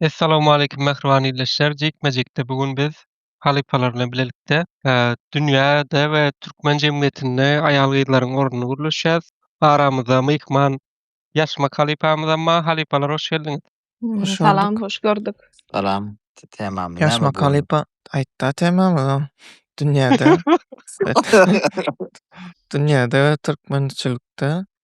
Essalawmaleýkim mähriban ildeşler. Jikme-jikde bu gün biz halypalar bilen bilelikde e, dünýäde we türkmen jemgyýetinde aýal-gyzlaryň ornuny gürleşýäs. Aramyzda myhman ýaşmak halypamyz hem bar. Halypalar hoş geldiňiz. Hoş Salam, gördük. hoş gördük. Salam. T- Temamyz näme Ýaşmak bu? halypa aýtda temamyz o. Dünýäde, dünýäde we türkmençilikde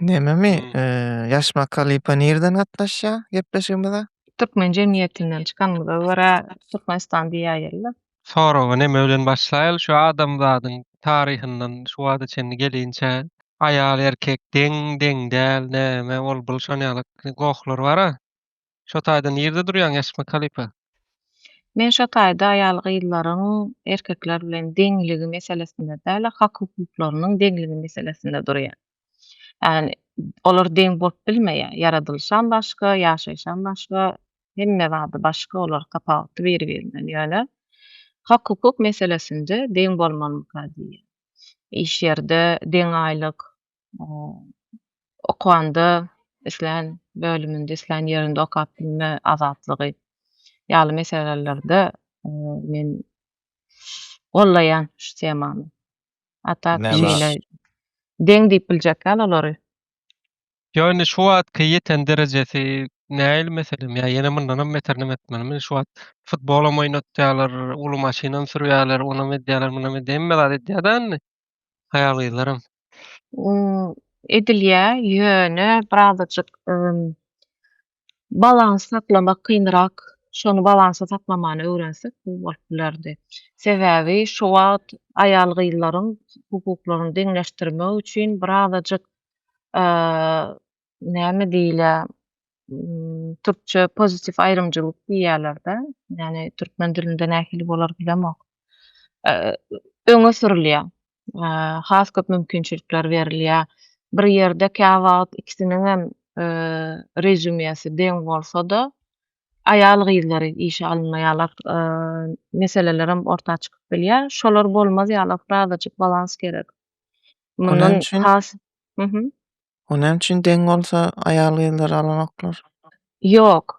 Nememi? Hmm. Eee, Ýaş Makalipa nirden gatnaşýar gepleşigimize? Türkmen jemgyýetinden çykanymyza görä Türkmenistan diýäýerler. Soragy neme bilen başlaýaly? Şu adamzadyň taryhyndan şu wagta çenli gelinçä aýal erkek deň, deň däl, näme, ol-bul şonýaly gohlary bar-a. Şo taýda nirde durýaň Ýaşma kalypa? Men şo taýda aýal gyzlaryň erkekler bilen deňligi meselesinde däl-de hak hukuklarynyň deňligi meselesinde durýan. Ýagny olar deň bolup bilmeýär. Ýaradylyşam başga, ýaşaýyşam başga, hemme zady başga olar tapawutly biri birinden ýöne hak hukuk meselesinde deň bolmalymyka diýýän. Iş ýerde deň aýlyk, okanda islän bölüminde, islän ýerinde okap bilme azatlygy ýaly meselelerde men gollaýan şu temany. Hatta şeýle deň diýip biljek ýaly olary. Ýöne şu wagtky ýeten derejesi näil meselem? Ýa ýene mundanam beterini etmelimi? Şu wagt futbolam oýnatýarlar, uly maşynam sürýärler, onam edýärler, munam edýärler, hemme zat edýärler indi. Haýal gyzlaram. Edilýä ýöne birazajyk balans saklamak kynrak. Şony balansa saklamany öwrensek gowy bolup bilerdi. Sebäbi şu wagt aýal gyzlaryň hukuklaryny deňleşdirmek üçin birazajyk näme diýilýär, türkçe pozitiw aýrymcylyk diýýärler-de, ýagny türkmen dilinde nähili bolar bilemok, öňe sürülýär. Has köp mümkinçilikler berilýär. Bir ýerde käwagt ikisiniň hem rezýumesi deň bolsa-da, aýal-gyzlary işe alynmaýarlar, meselelerem orta çykyp bilýär. Şolar bolmaz ýaly, frazajyk balans gerek. Mundan has, O näme üçin deň bolsa aýal gyzlary alanoklar? Ýok.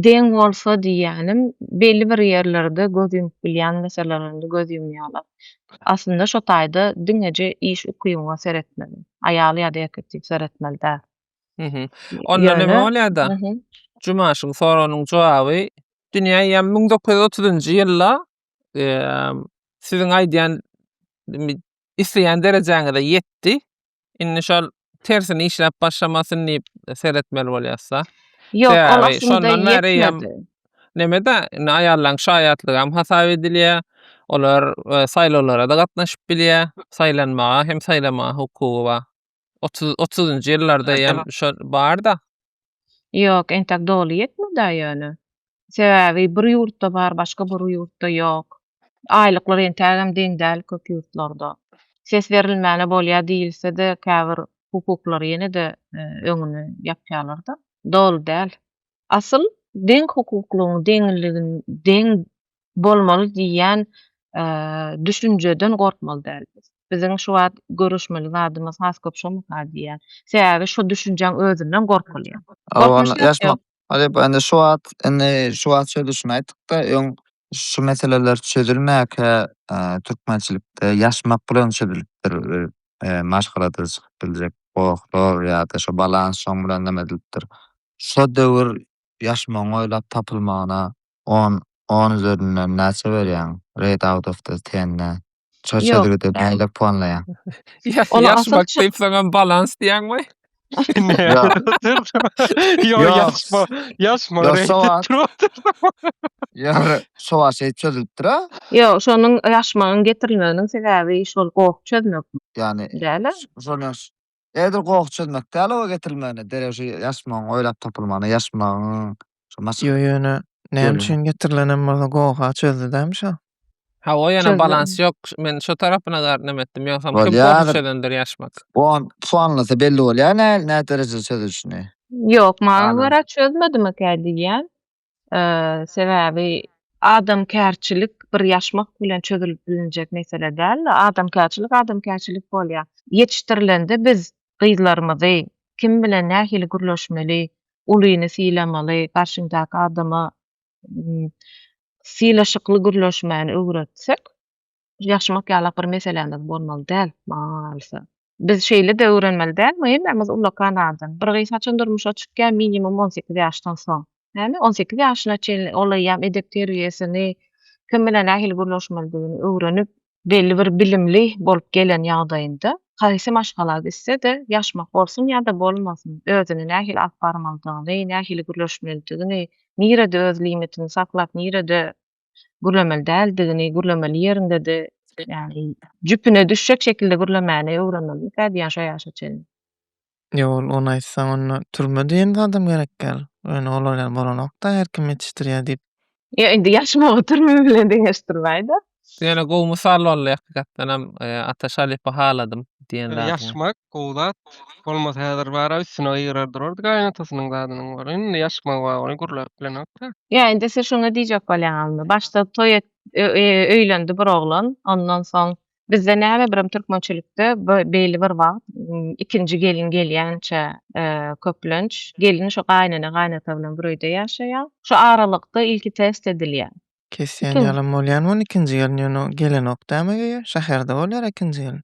Deň bolsa diýýänim belli bir ýerlerde göz ýumup bilýän meselelerinde göz ýumýalar. Aslynda şo taýda diňeje iş ukybyňa seretmeli. Aýal ýa-da erkek diýip seretmeli däl. Mhm. Onda näme bolýada? Juma şuň soragnyň jogaby dünýä ýa müň dokuz ýüz otuzynjy ýylda siziň aýdýan isleýän derejäňize ýetdi. Indi şol tersini işläp başlamasyn diýip seretmeli bolýasda. Ýok, ol Sebäbi aslynda şondan bäri hem ýetmedi. neme-de, indi aýallaryň şaýatlygy hem hasap edilýär. Olar e, saýlawlara-da gatnaşyp bilýär. Saýlanmaga hem saýlamaga hukugy bar. 30 30-njy ýyllarda hem şol barda. Ýok, entek doly ýetmedi ýöne. Sebäbi bir ýurtda bar, başga bir ýurtda ýok. Aýlyklar entägem deň däl köp ýurtlarda. Ses berilmäne bolýar diýilse-de, käbir hukuklar ýene-de öňüni ýapýarlar-da. Doly däl. Asyl deň hukuklygyň, deňligiň, deň bolmaly diýýän düşünjeden gorkmaly däl. Biziň şu wagt görüşmeli zadymyz has köp şomaka diýýän. Sebäbi şu düşünjäň özünden gorkulýar. Şu wagt indi şu wagt şeýle düşün aýtdykda öň şu meseleler çözülmäkä türkmençilikde ýaşmak bilen çözülipdir. Maşgalada çykyp biljek gohlar ýa-da şu balans şoň bilen neme edilipdir. Şu döwür ýaşmagyň oýlap tapylmagyna On on üzerinden näçe berýäň? Red out of the ten nä? Ço Ýok. çözgüdi nähili puanlaýaň? Ýaş Ol ýaş asyl bak çö- diýip saňa balans diýäňmi? Ýok. Ýok Ýok. ýaşma. Ýaşma. Ýok, reýting sowa- turup- Ýa şo wagt şeýdip çözülipdir ha. Ýok, şonuň ýaşmagyň getirilmeginiň sebäbi şol goh çözmek Ýani däl-ä. şonuň Edil goh çözmek däl oba getirilmegine derek şu ýaşmagyň oýlap tapylmagyna ýaşmagyň şu maş. Ýo ýöne näme üçin getirilen hem bolsa goha çözdidämi şo. Hawa ýöne balans ýok men şo tarapyna gar näme etdim ýogsam kim goh çözendir ýaşmak. Bu on puanlasa belli bolýar näl näderejede çözülişini. Ýok maňa görä çözmedimekä diýýän. Sebäbi adamkärçilik bir ýaşmak bilen çözülip bilinjek mesele däl. Adamkärçilik adamkärçilik bolýar. Ýetişdirilende biz gyzlarymyzy kim bilen nähili gürleşmeli, ulyny sylamaly, garşyňdaky adama sylaşykly gürleşmäni öwretsek, ýaşmak ýalak bir meselämiz bolmaly däl maňa galsa. Biz şeýle-de öwrenmeli dälmi? Hemmämiz ullakan adam. Bir gyz haçan durmuşa çykýar? Minimum on sekiz ýaşdan soň. Näme? On sekiz ýaşyna çenli ol eýýäm edep-terbiýesini, kim bilen nähili gürleşmelidigini öwrenip, belli bir bilimli bolup gelen ýagdaýynda, haýsy maşgala gitse-de, ýaşmak bolsun ýa-da bolmasyn, özüni nähili alyp barmalydygyny, nähili gürleşmelidigini, nirede öz limitini saklap, nirede gürlemeli däldigini, gürlemeli ýeriňde-de, ýagny jüpüne düşjek şekilde gürlemäni öwrenmeli kä diýýän şo ýaşa çenli. Ýok, ol ony aýtsaň, onda türme diýen zadam gerek däl. Ýöne olar ýaly bolanok-da, her kim ýetişdirýär diýip. Ýok, indi ýaşmagy türme bilen deňeşdirmäý-de. Ýöne gowy mysal boldy, hakykatdanam, Ataş Alypa haladym diýen zadyňa. Ýaşmak, Gowy zat. Bolmasa häzir bara üstüne gygyrar durardy gaýynatasynyň zadynyň bar. Indi ýaşmagy bar ony gürläp bilenokda. Ýa indi siz şuňa diýjek bolýaňyzmy? Başda toý et öýlendi bir oglan, ondan soň bizde näme birem türkmençilikde beýle bir wagt ikinji gelin gelýänçä köplenç gelin şu gaýynene-gaýynata bilen bir öýde ýaşaýar. Şu aralykda ilki test edilýär. Kesýän Eken. ýalam bolýan ony ikinji gelin ýöne o gelenok däme geýe. Şäherde bolýar ikinji gelin.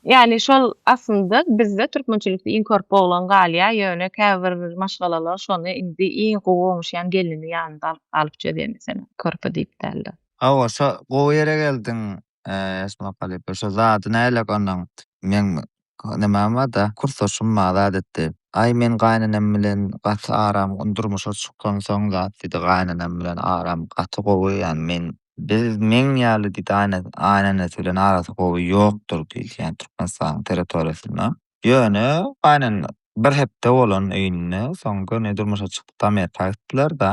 Ýani şol aslynda bizde türkmençilikde iň körpe oglan galýar ýöne käbir maşgalalar şony indi iň gowy oňuşýan gelini ýanynda alyp galyp çözýär meselem körpe diýip dälde. Hawa şo gowy ýere geldiň Esma halypa şo zady näleek onuň meň Nämem bar-da, kursdaşym mazat etdi. Aý, men gaýynenem bilen gaty aram durmuşa çykansoň zat diýdi, gaýynenem bilen aram gaty gowy, ýagny men, biz, meň ýaly diýdi, gaýynenesi bilen arasy gowy ýokdur diýdi, ýagny Türkmenistanyň territoriýasynda. Ýöne gaýynenesi bir hepde bolan öýünde, soň göni durmuşa çykyp Amerika gitdiler-da.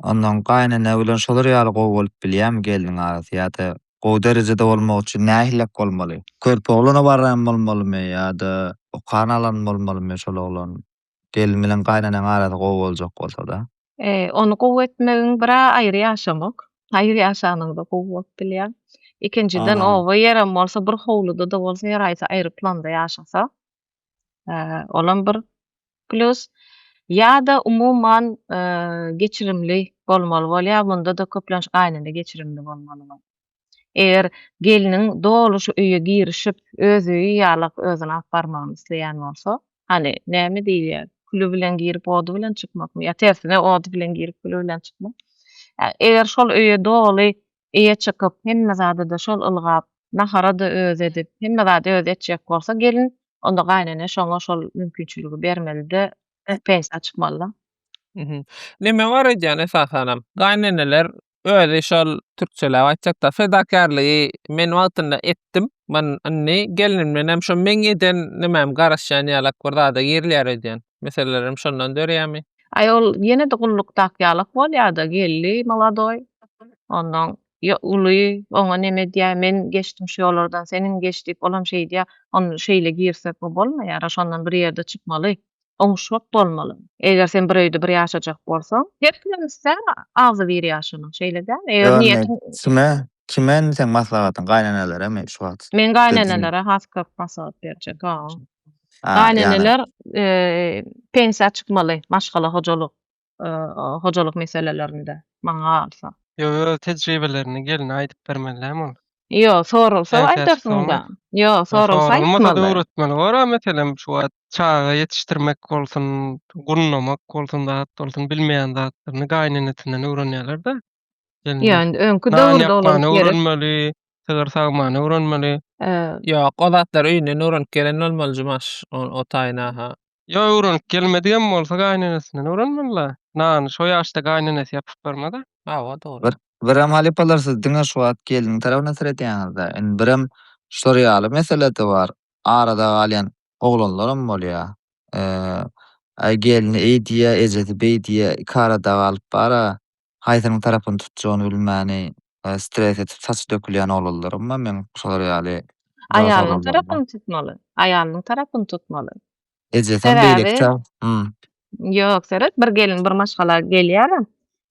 Ondan gaýynene bilen şolar ýaly gowy bolup bilýärmi gelniň arasy ýa-da gowy derejede bolmak üçin nähillek bolmaly? Körpe oglana barýan bolmalymy ýa-da okan alan bolmalymy şol oglan? Gelin bilen gaýyneneň arasy gowy boljak bolsada. Ony gowy etmegiň bira aýry ýaşamak. Aýry ýaşanyňda gowy bolup bilýär. Ikinjiden oba ýerem bolsa bir howluda-da bolsa her haýsy aýry planda ýaşasa. olam bir plus. Ýa-da umuman geçirimli bolmaly bolýar, munda-da köplenç gaýynene geçirimli bolmaly bol. Eger gelniň doly şu öýe girişip, öz öýi ýalak özüni alyp barmagyny isleýän bolsa, hany, näme diýilýär, küli bilen girip, ody bilen çykmakmy, ýa tersine, ody bilen girip, küli bilen çykmak. Eger şol öýe doly eýe çykyp, hemme zady-da şol ylgap, nahara-da özi edip, hemme zady özi etjek bolsa gelin, onda gaýynene şoňa şol mümkinçiligi bermeli-de, pensiýa çykmaly-da. Näme bar edýän esasanam? Gaýyneneler özi şol türkçeläp aýtjakda, fedakärligi men wagtynda etdim, men indi gelinimdenem şo meň eden nimäm garaşýan ýalak bir zada girýär öýdýän. meseleler hem şondan dörýärmi? Aý ol ýene-de gullukdaky ýalak bolýada geldi molodoý onnoň uly oňa neme edýär men geçdim şu ýollardan seniň geç diýip olam şeýdýär on şeýle girsek bu bolmaýara şondan bir ýerde çykmaly oňuşgak bolmaly eger sen bir öýde bir ýaşajak bolsaň her kimem islär agzy bir ýaşanyň şeýle dälmi eger niýetiň kime kime indi seň maslahatyň gaýneneleremi şu wagt men gaýnenelara has köp maslahat berjek Gayneneler pensiýa çykmaly maşgala hojalyk hojalyk meselelerinde maňa galsa. Ýok öz tejribelerini geline aýdyp bermelilämi ol. Ýok soralsa aýdarsyňda. Ýok soralsa aýtmaly. Soralmasa da öwretmeli bor a meselem şu wagt çaga ýetişdirmek bolsun, gunnamak bolsun zat bolsun bilmeýän zatlaryny gaýnenesinden öwrenýärler-de. Ýöne öňki döwürde olar öwrenmeli, sygyr sagmany öwrenmeli. Ýok, o zatlar öýünden öwrenip gelen bolmaly Jumaş, o taýyna ha. Ýok, öwrenip gelmedik hem bolsa gaýynenesine öwrenmeli-le. Nany şo ýaşda gaýynenesi ýapyp bermez-ä. Hawa, dogry. Birem halypalar siz diňe şu wagt gelniň tarapyna seredýäňiz-dä. Indi birem şular ýaly mesele-de bar. Arada galýan oglanlaram bolýar. Äý gelni eý diýýär, ejesi beý diýýär, iki arada galyp bar-a. Haýsynyň tarapyny tutjagyny bilmäni stres edip saçy dökülýän oglanlarymma meň şolar ýaly dos Aýalynyň tarapyny tutmaly. Aýalynyň tarapyny tutmaly. Ejesem beýleki tarap. Hum. Ýok, seret, bir gelin bir maşgala gelýär.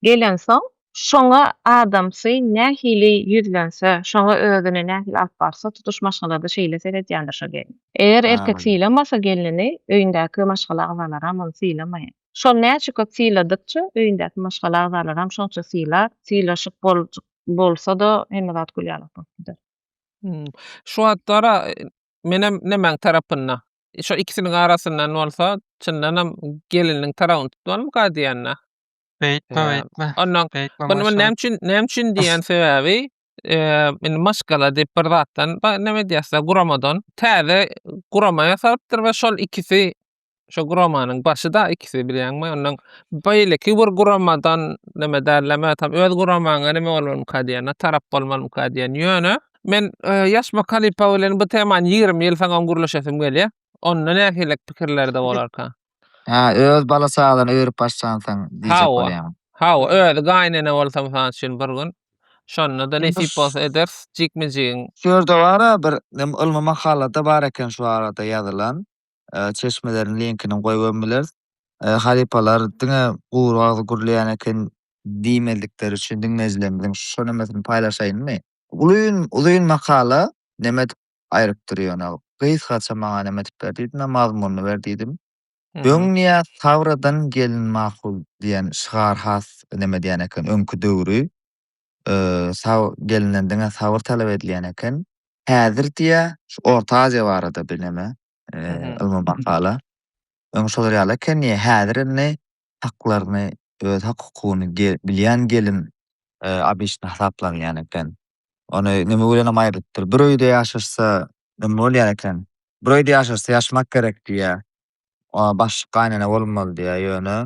Gelensoň, şoňa adamsy nähili ýüzlense, şoňa özüni nähili alyp barsa, tutuş maşgalada şeýle seredýändir şo gelin. Eger erkek sylamasa gelnini, öýündäki maşgala agzalaram ony sylamaýar. Şol näçe köp syladykça, öýündäki maşgala agzalaram şonça sylar, sylaşyp boljk bolsada hemme zat gül ýalak bolup gider. Hum. Şu wagtlara menem nemäň tarapynda? Şo ikisiniň arasyndan bolsa, çyndanam gelininiň tarabyny tutmalymyka diýende. Beýtme, beýtme. Onnoň Beýtme, Muny maşgala. näme üçin, näme üçin diýýän sebäbi, eee, indi maşgala diýip bir zatdan, ba, näme diýýäs-dä, guramadan täze gurama ýasalypdyr we şol ikisi Şo guramanyň başy da ikisi bilýäňmi? Ondan beýleki bir guramadan näme därleme tam öz guramaňa näme bolmamyka diýen, na tarap bolmamyka diýen. Ýöne men e, ýaş Makalipa bilen bu temany 20 ýyl saňam gürleşesim gelýär. Onda nähililik pikirlerde bolarka? Ha, öz bala çagadan öýrüp başlansaň diýjek Hawa. bolýan. Hawa, özi gaýynene bolsa mysal üçin bir gün. Şonda da Indi nesip şu- bolsa ederis. Jikme-jigiň Şu ýerde bara bir nem ylmy makalada bar eken şu barada ýazylan. çeşmeleriň linkini goýup bileris. Halypalar diňe gury agzy gürleýän eken diýmezlikleri üçin diňleýjilerimiziň şu nemesini paýlaşaýynmy? Ulyn uzyn makala neme edip aýrypdyr ýöne gysgaça maňa neme edip ber diýdim we mazmunyny ber diýdim. Öň niýe Sabradan gelin makul diýen şygar has neme edýän eken öňki döwri gelenden diňe sabyr talap edilýän eken. Häzir diýä şu Orta Aziýa barada bir neme ylmy makala. Öň şolar ýaly eken diýä. Häzir indi haklaryny, öz hak-hukugyny bilýän gelin obişni hasaplanýan eken. Ony neme bilenem aýrypdyr. Bir öýde ýaşaşsa neme bolýar eken? Bir öýde ýaşaşsa ýaşamak gerek diýä. Oňa başlyk gaýynene bolmaly diýýär. Ýöne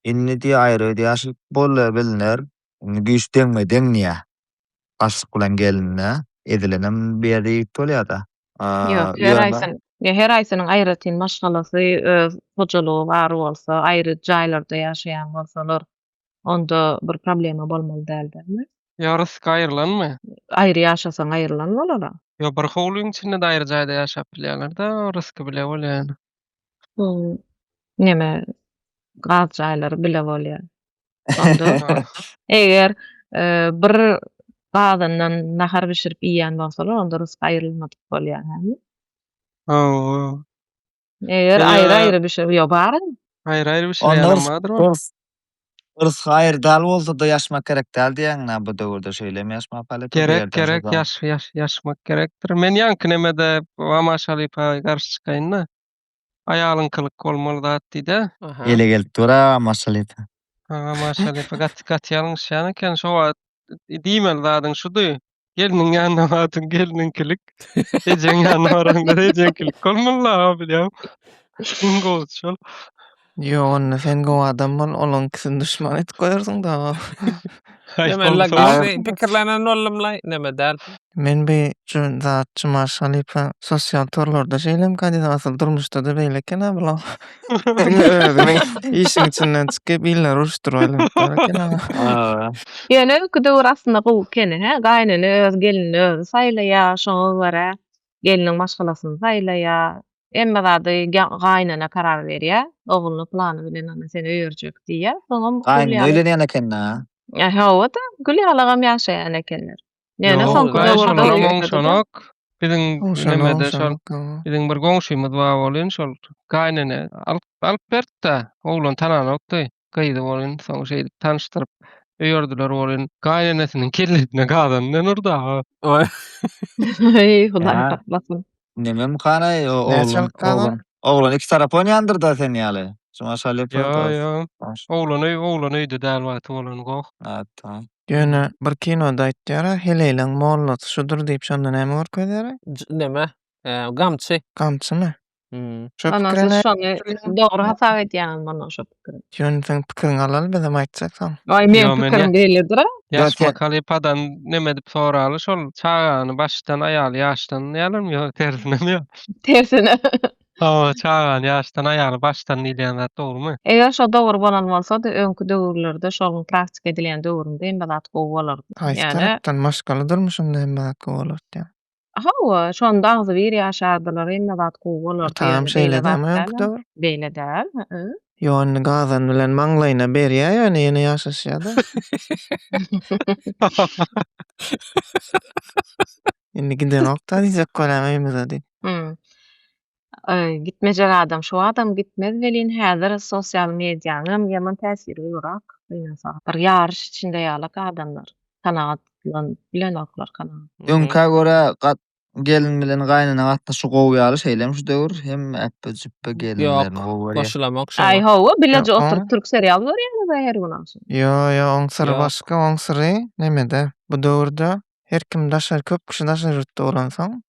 indi diýýär, aýry ýaşaýyp bolýar, bilner. Indi güýç deňme-deň diýýär. Başlyk bilen gelinde ezilenem bu ýerde ýigit bolýar-da. Ýok, her aýsynyň, her aýsynyň aýratyn maşgalasy, öz hojalygy bar bolsa, aýry jaýlarda ýaşaýan bolsalar, onda bir problema bolmaly däl dälmi? Ýarysy gaýyrlanmy? Aýry ýaşasaň aýyrlan bolara. Ýok bir howlyň içinde-de aýry jaýda ýaşap bilýärler-de orasky bile bolýar ýaly. Bu neme gaz jaýlary bile bolýar. Onda eger bir gazyndan nahar bişirip iýýän bolsalar onda rysky aýrylmadyk bolýar hä? Hawa. Eger Ýa- aýry-aýry bişir, ýa bar. Aýry-aýry bişirýän Onda hem bardyr ol. yrs yrs gaýry dal bolsa-da ýaşmak gerek däl diýýäňmi bu döwürde şeýlemi ýaşmak halypa bu Gerek, ýerden gerek, sazan? ýaş, ýaş, ýaşmak gerekdir. Men ýaňky nemede Wamaş halypa garşy çykaýyn-da. Aýalyňkylyk bolmaly zat diý-de. Aha. Ele gelip dur-a Wamaş halypa. Ha, Wamaş halypa gaty, gaty ýalňyşýan eken. Şo wagt diýmeli zadyň şudy. Gelniň ýanyna bardyň, gelniňkilik. Ejeň ýanyna baraňda ejeňkilik. Kol mulla abi diýýär. Iň gowusy şol. Ýok, onda sen gowy adam bol, olaňkysini duşman edip goýarsyň da. Aý, Näme gowy la soň. Aý. gowsy pikirlenen boldum la. Näme däl. Men bir ju- zat jumaş halypa sosial torlarda şeýle kandidat asyl durmuşda-da beýle eken-ä bular. Diňe özüňi işiň içinden çykyp illeri uruşdyryp aýlanyp bar ekeniň. Hawa. Ýöne öňki döwür aslynda gowy ekeni hä, gaýynene öz gelinini özi saýlaýa, şoňa görä gelniň maşgalasyny saýlaýa, hemme zady gaýynene karar berýä, ogluny plany bilen ana sen öýerjek diýýä, soňam Gaýynene öýlenýän ekeni-hä. Hawa-da, gül ýalagam ýaşaýan ekenler. Ýöne soňky döwürde biziň nämede şol biziň bir goňşymyz bar bolýan şol gaýnene alyp alyp berdi-de, oglan tananokdy, gyzy bolýan, soň şeýdip tanyşdyryp öýerdiler bolýan. Gaýnenesiniň kellesine gazandan urdy aga. Eý, Hudaý saklasyn. Nemem kana oglan oglan oglan iki tarap oýnandyr da sen ýaly. Şuňa şaly ýapylar. Ýa ýa. Oglan öý oglan öýde däl wagty bolan goh. Atda. Ýöne bir kinoda aýtýara heleýleň mollasy şudur diýip şonda näme görkezýara? Neme? Gamçy. Gamçymy? Şo pikire näme? Şony dogry hasap edýäňizmi ondan şo? Ýöne seň pikiriňi alaly bizem aýtjaksaň. Aý meň Ýo, men pikirim ýa- beýledir-ä. Ýaş Ýa- makalipa'dan neme edip soraly şol çagany başdan aýaly ýaşdan diýýärlermi ýo tersinemi ýo. Tersine. Hawa çagany ýaşdan aýaly başdan diýilýän zat dogrymy? Eger şo dogry bolan bolsady öňki döwürlerde şolyň praktika edilýän döwründe hemme zat gowy bolardy. Haýsy Ýane. tarapdan maşgala durmuşynda hemme zat gowy bolardy ýa. Hawa, şonda agzybir ýaşardylar, hemme zat gowy bolardy. Atam şeýle däl-ä, dogry. Beýle däl, hä? Ýok, indi gazan bilen maňlaýyna berýär, ýöne ýene ýaşaşýar-da. Indi gidenok-da diýjek bolan öýümize diý. Hum. Gitmejek adam şu adam gitmez welin häzir sosial medianyň ýaman täsiri gowrak. Bir ýaryş içinde ýalak adamlar kanagatlanyp bilenoklar kanagat. Öňkä görä gelin bilen gaýnene gatnaşygy gowy ýaly şeýlemi şu döwür hemme äpbe jüpbe gelinlerini gowy görýä. Goşulamok şoňa. Aý hawa bileje oturyp türk serial görýäňiz aý her gün agşam. Ýo ýo oň syry başga oň syry nemede bu döwürde her kim daşary köp kişi daşary ýurtda bolansoň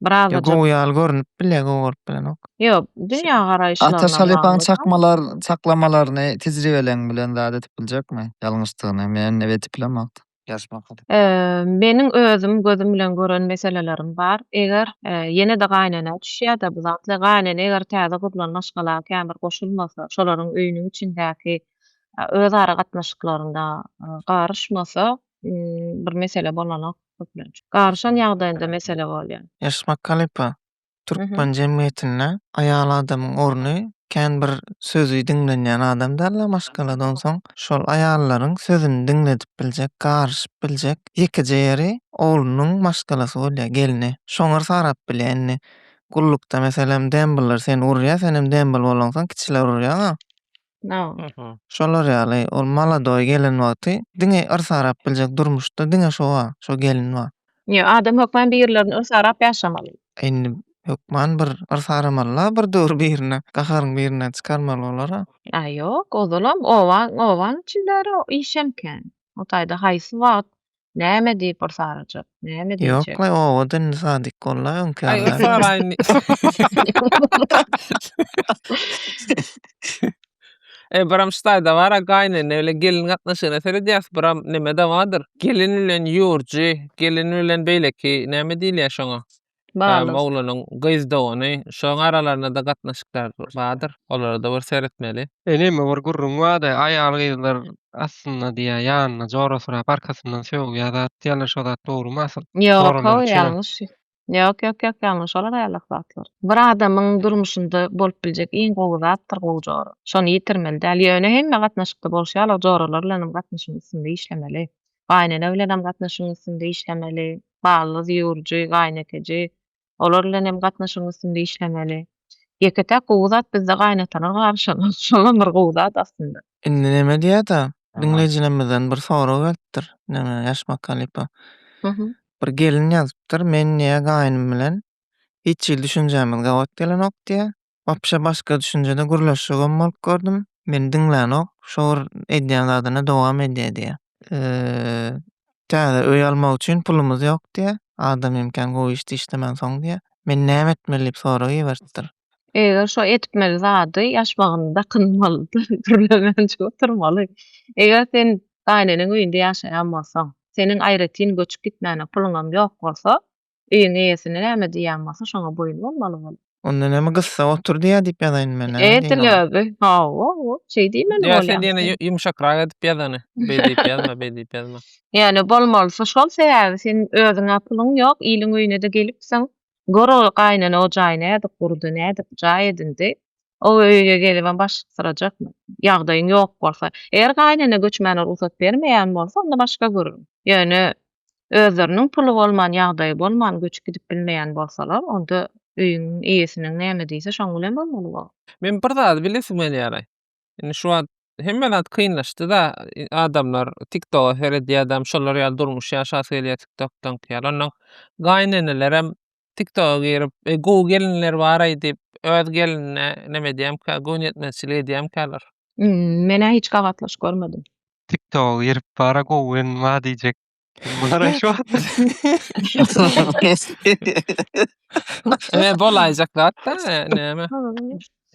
Biraz da gowy ýaly görünip bile gowy görüp bilenok. Ýok, dünýä garaýyşlaryna bagly. Ata şalypaň çakmalar, çaklamalaryny tejribeleň bilen zat edip biljekmi? Ýalňyşdygyny men ebe edip bilemokdy. Meniň özüm gözüm bilen gören meselelerim bar. Eger ýene-de gaýynenä düşýä-de bu zatlar, gaýynene eger täze gurlan maşgala käbir goşulmasa, şolaryň öýüniň içindäki öz ara gatnaşyklarynda garyşmasa, bir mesele bolanok. garyşan ýagdaýynda mesele bolýar. Ýaşmak halypa, türkmen jemgyýetinde aýal adamyň orny kän bir sözi diňlenýän adam däldir maşgalada onsoň şol aýallaryň sözüni diňledip biljek garyşyp biljek ýekeje ýeri oglunyň maşgalasy bolýar gelni şoňar sarap bilýär indi gullukda meselem dembller seni urýar senem dembl bolaňsoň kiçiler urýar a Şolar ýaly ol maladoý gelen wagty diňe yrs arap biljek durmuşda diňe şo bar, şo gelin bar. Ýok, adam hökman birilerini yrs arap ýaşamaly. Indi hökman bir yrs aramaly-la bir döwür birine, gaharyň birinden çykarmaly bolar-a. Aý ýok, ozalam obaň, obaň içindäri iş hem kän. O taýda haýsy wagt Näme diýip bir sarajak? Näme diýjek? Ýok la owada indi sadyk bolla öňki Aý ýaly. saraýyn. E biram ştaýda bar a gaýnene bilen gelin gatnaşygyna seredýäs biram neme dawadyr. Gelin bilen ýurjy, gelin bilen beýleki näme diýilýär şoňa? Baglys. Moglanyň gyz dogany. Şoň aralarynada gatnaşyklar bardyr. Olarada bir seretmeli. Eneme bir gürrüň bardy. Aýal gyzlar astynda diýýär ýanyna jora sürap arkasyndan sögýär zat diýýärler şo zat dogrymy asyl? Ýok how ýalňyş. Ýok ýok ýok ýalňyş olar aýallak zatlar. Bir adamyň durmuşynda bolup biljek iň gowy zatdyr gowy jora. Şony ýitirmeli däl. Ýöne hemme gatnaşykda bolşy ýaly joralar bilen hem gatnaşygyň üstünde işlemeli. gaýynene bilenem gatnaşygyň üstünde işlemeli, balduz, ýüwürji, gaýynekeji, olar bilenem gatnaşygyň üstünde işlemeli. Ýeke-täk gowy zat bizde gaýynatalar garyşanok, şolam bir gowy zat aslynda. Indi näme diýýä-da, diňleýjilerimizden bir sorag gelipdir, näme, Ýaşmak halypa, bir gelin ýazypdyr, men diýýä, gaýynym bilen hiç hili düşünjämiz gabat gelenok diýýä, Wapşe başga düşünjede gürleşjegem bolup gördüm. Meni diňlänok. Şo bir edýän zadyna dowam edýär diýýär. Eee, täze öý almak üçin pulumyz ýok diýýär. Adam hem kän gowy işdi işlemän soň diýýär. Men näme etmeli diýip sorag iberipdir. Eger şo etmeli zady ýaş wagtynda dakynmalydyr, gürlemänje oturmaly. Eger sen gaýyneneň öýünde ýaşaýan bolsaň, seniň aýratyn göçüp gitmäne puluňam ýok bolsa, Öýüň eýesine näme diýýäň bolsa şoňa boýun bolmaly bol. Onda näme gyssa otur diýýä diýip ýazaýynmy men näme diýin oňa. Edil özi hawa şeý diýmeli bolýar. Ýa sen ýene ýumşakrak edip ýazany. Beý diýip ýazma beý diýip ýazma. Ýöne bolmalysy şol sebäbi sen özüňä pulyň ýok iliň öýünede gelipsiň gör ol gaýnene o jaý nädip gurdy nädip jaý edindi o öýge gelibem baş syrajakmy ýagdaýyň ýok bolsa eger gaýnene göçmäne rugsat bermeýän bolsa onda başga görüň ýöne özleriniň puly bolman ýagdaýy bolman göçüp gidip bilmeýän bolsalar onda öýüň eýesiniň näme diýse şoň bilen bolmaly bu. Men bir zady bilesim gelýäraý. Indi şu wagt hemme zat kynlaşdyda adamlar tiktoga seredýädam şolar ýaly durmuş ýaşasy gelýä tiktokdaňky ýaly onnoň gaýynenelerem TikToka girip, e, gowy gelinler bar-aý diýip, öz gelinine neme edýämkä, göwün ýetmezçilik edýämkäler. Hm, men-ä hiç gabatlaş görmedim. TikToka girip, bar-a gowy gelin bar diýjek. Bular-aý şu wagt Ine, bolaýjak zat-da, e, näme.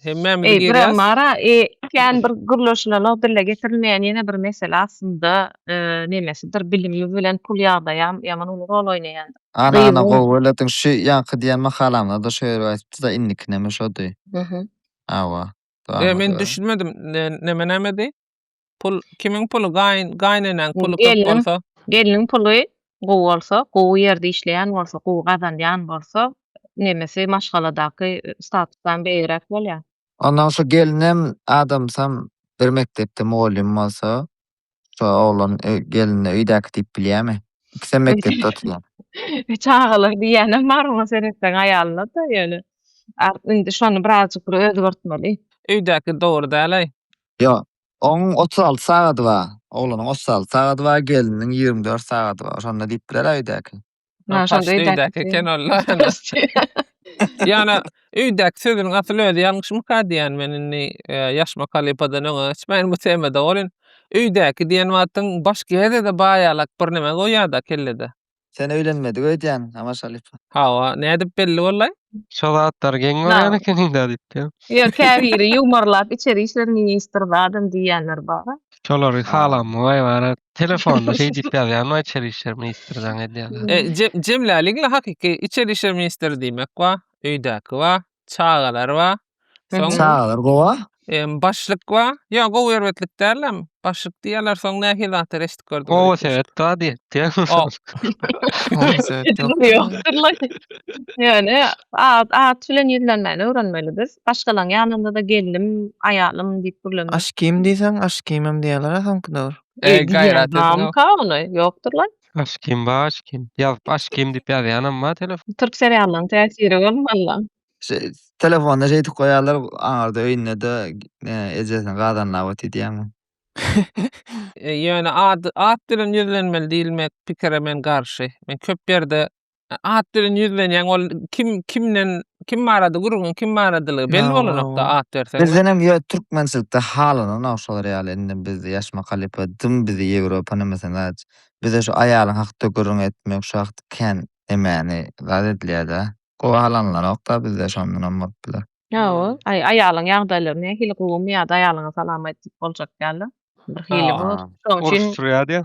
Hemmämiz Eý, bir gelýäs. Mara, e, kän bir gürleşilenok, dile getirilmeýän ýene bir mesele aslynda, e, nemesidir, bilim bilen pul ýagdaýam ýaman uly rol oýnaýan. Ana, ana, Gyzyň- gowy belediň. Şu ýaňky diýen makalamda-da şo ýeri aýdypdy-da, indikinem-ä şody. Hawa. Dowam Eý, men ediberiň. düşünmedim, ne, neme-nämedi? Pul kimiň puly gaýyn gaýneneň puly köp Gelniň- bolsa. Gelniň puly gowy bolsa, gowy ýerde işleýän bolsa, gowy gazanýan bolsa, nemesi maşgaladaky statusdan beýigräk bolýar. Ondan şu gelinem adamsam bir mekdepde mugallym bolsa, şu oglan ö- gelnine öýdäki diýip bilýärmi? Ikisem mekdepde oturýar. E, Çagalar diýýänem bar oňa seretseň aýalyna-da ýöne. Ar- Indi şony birazjyk bir özgertmeli. Öýdäki dogry däl-aý. Ýok. Onuň otuz alty sagady bar. Oglanyň otuz alty sagady bar, gelniniň ýigrimi dört sagady bar. Şonda diýip biler öýdäki. Ha, şonda Paşda öýdäki öýdäki diýen. eken ol-da. Ýöne öýdäki sözüniň asyl özi ýalňyşmyka diýýän men indi e, ýaşmak halypadan öňe geçmäýin bu temada. Ol indi öýdäki diýen wagtyň baş gezede baýalak bir näme goýýar-da kellede. Sen öýlenmedik öýdýäň, Amaş halypa. Hawa, nädip belli bollaý? Şo zatlar geň görýän ekeniň-dä diýipdim. Ýok, käbiri ýuwmarlap içeri işler ministri zadam diýýänler bar. Şolary halanmy waý wara telefonda şeý diýip ýazýan waý içeri işler ministri zaň edýän. Jemlälik-le hakyky içeri işler ministri diýmek waý, öýdäki waý, Çagalar bar. Soň Çagalar gowa. em, başlyk bar. Ýa gowy erbetlik dälem. Başlyk diýýärler. Soň nähili zatlar eşidip gördüň? Gowa Öýt? sebet bar diýýär. O, Gowy sebet ýok. Ýokdur lan. Ýöne at, at bilen ýüzlenmäni öwrenmeli biz. Başgalaryň ýanynda-da gelnim, aýalym diýip gürlemek. Aşkim diýseň, aşkymym diýýärler-ä soňky döwür. Eý, gaýrat ediň-ow. Bamyka ony? Ýokdur lan. Aşkim ba aşkim. Ýazyp aşkim diýip ýazýanam bar telefon. Türk seriallaryň täsiri bolmalla. Şeý telefonda şeýdip goýýarlar aňyrda öýündede ejesini gazanlap otyr diýýäňmi? Ýöne at bilen ýüzlenmeli diýilmek pikire men garşy. Men köp ýerde at bilen ýüzlenýäň, ol kim kimden kim barada gürrüňiň kim baradalygy belli bolanokda at berseň. Bizdenem ýöne türkmençilikde halananok şolar ýaly indi biz ýaşmak halypa dym bizi Ýewropa nimesi zat bize şu aýalyň hakda gürrüň etmek şu hakda kän nemäni zat edilýärda gowy halanlanokda bizde şondanam bolup biler. Hawa, aý aýalyň ýagdaýlary nähili gowumy ýa-da aýalyňa salam aýdyp boljak ýaly birhili bor. Şoň üçin Uruşdyrýar diýä.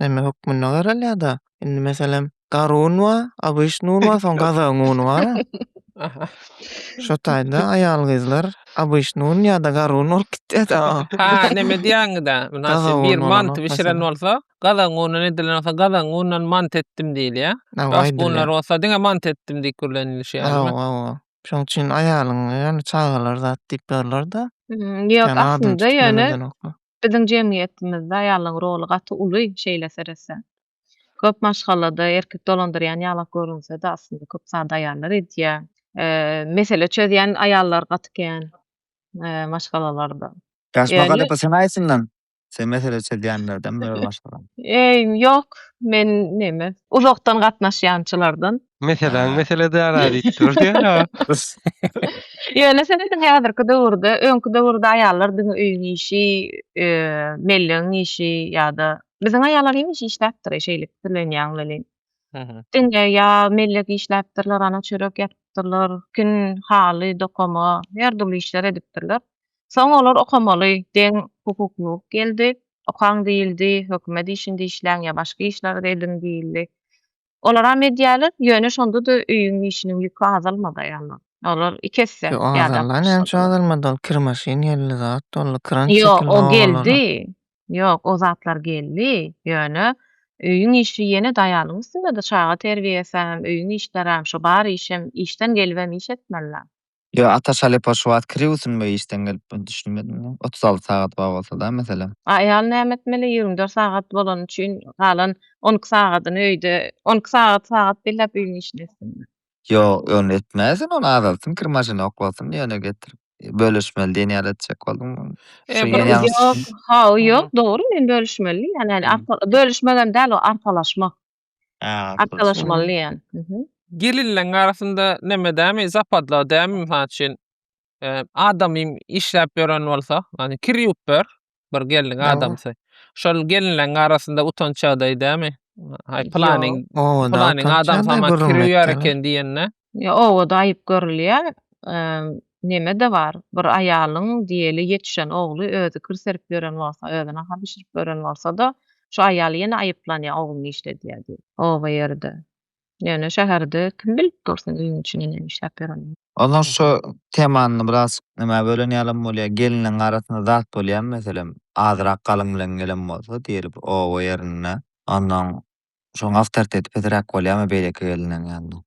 neme hökmünde garalýar-da. Indi, meselem, gara un bar, obyşnyý un bar, soň gazagyň uny bar. Şo taýda aýal-gyzlar obyşnyý un ýa-da gara un bolup gitýär-de. Ha, neme diýýäňiz-ä? Mynasyp, bir manty bişiren bolsa, gazagyň uny edilen bolsa, gazagyň unundan mant etdim diýilýär. Başga unlar bolsa, diňe mant etdim diýip gürlenilişýär. Hawa, hawa. Şonuň üçin aýalyň, ýöne çagalar zat diýip ýörler-de. Ýok, aslynda ýöne Biziň jemgyýetimizde aýallaň roly gaty uly şeýle seretseň. Köp maşgalada erkek dolandyrýan ýalak görünsede aslynda köp zady aýallar edýä. Mesele çözýän aýallar gaty kän maşgalalarda. Ýaşma galypa sen aýsyndan sen mesele çözýänlerden biri maşgalada. Ýok men neme uzakdan gatnaşýançylardan. Meseläň mesele däl-ä diýip dur diýen-ä. Ýöne sen diňe häzirki döwürde, öňki döwürde aýallar diňe öýüň işi, mellegiň işi ýa-da biziň aýallar hemişe işläpdir-eý, şeýle pikirlenýäň welin. Diňe ýa mellek işläpdirler, ana çörek ýapypdyrlar, kin, haly, dokama, her dürli işler edipdirler. Soň olar okamaly, deň hukuklylyk geldi, okaň diýildi, hökümet işinde işläň ýa başga işlerde ediň diýildi. Olaram edýärler, ýöne şonda-da öýüň işiniň ýüki azalmady aýallar. Olar iki esse Ýok, ýadap azaldy, näme üçin başladylar. azalmady ol kir maşyn geldi, zat doldy, kran Ýok, çekildi o obalara. geldi. Ýok, o zatlar geldi, ýöne öýüň işi ýene-de aýalyň üstünde-de, çaga terbiýesem, öýüň işlerem, şu bar işem, işden gelibem iş etmeli-dä. Ýo ata şalepa şu wagt kiri usunma işden gelip men düşünmedim men otuz alty sagat bar bolsada meselem. A aýal näme etmeli ýigrimi dört sagat bolany üçin galan on iki sagadyny öýde on iki sagat sagat belläp öýüň işini etsinmi. Ýok ony etmäýsin ony azaltsyn kir maşyny oklasyn ýöne getirip bölüşmeli diýen ýaly etjek boldum men. Şu ýene ýalňyş. Ýok haw ýok dogry men bölüşmeli diýýän ýaly bölüşmegem däl o arkalaşmak. Arkalaşmaly diýýän. Gelinleň arasynda neme dämi zapadla dämi mysal üçin adamym işläp ýören bolsa ýani kir ýuwup ber bir gelniň adamsy şol gelinleň arasynda utanç ýagdaýy dämi aý pylanyň pylanyň adamsy kir ýuwýar eken diýende. Ýa obada aýyp görülýär, neme-de bar, bir aýalyň diýeli ýetişen ogly özi kir serip ýören bolsa, özi nahar bişirip ýören bolsa-da, şu aýal ýene aýyplanýar ogluny işledýär diýip. Oba ýerde. Ýöne şäherde kim bilip dur seň öýüň içinde näme işläp ýörenini. Onsoň şu temany biraz nämä bölen ýalam bolýar, gelniň arasynda zat bolýamy meselem, azyrak galyň bilen gelen bolsa diýeli bir oba ýerinde, onsoň Şoň awtoriteti pesiräk bolýamy beýleki gelniň ýanynda?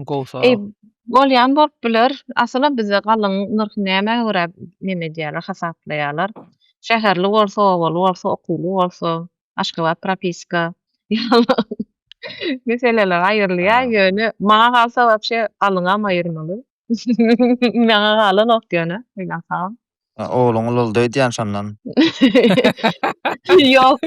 Gowy sorag. Eý, bolýan bolup biler. Asylam bizde galyň nyrhy nämä görä neme edýärler, hasaplaýarlar. Şäherli bolsa, obaly bolsa, okuwly bolsa, Aşgabat propiska ýaly meseleler aýrylýar. Ýöne maňa galsa wapşe galyňam aýyrmaly. Maňa galanok ýöne oýlansagam. Ogluň ululdy öýdýän şondan. Ýok.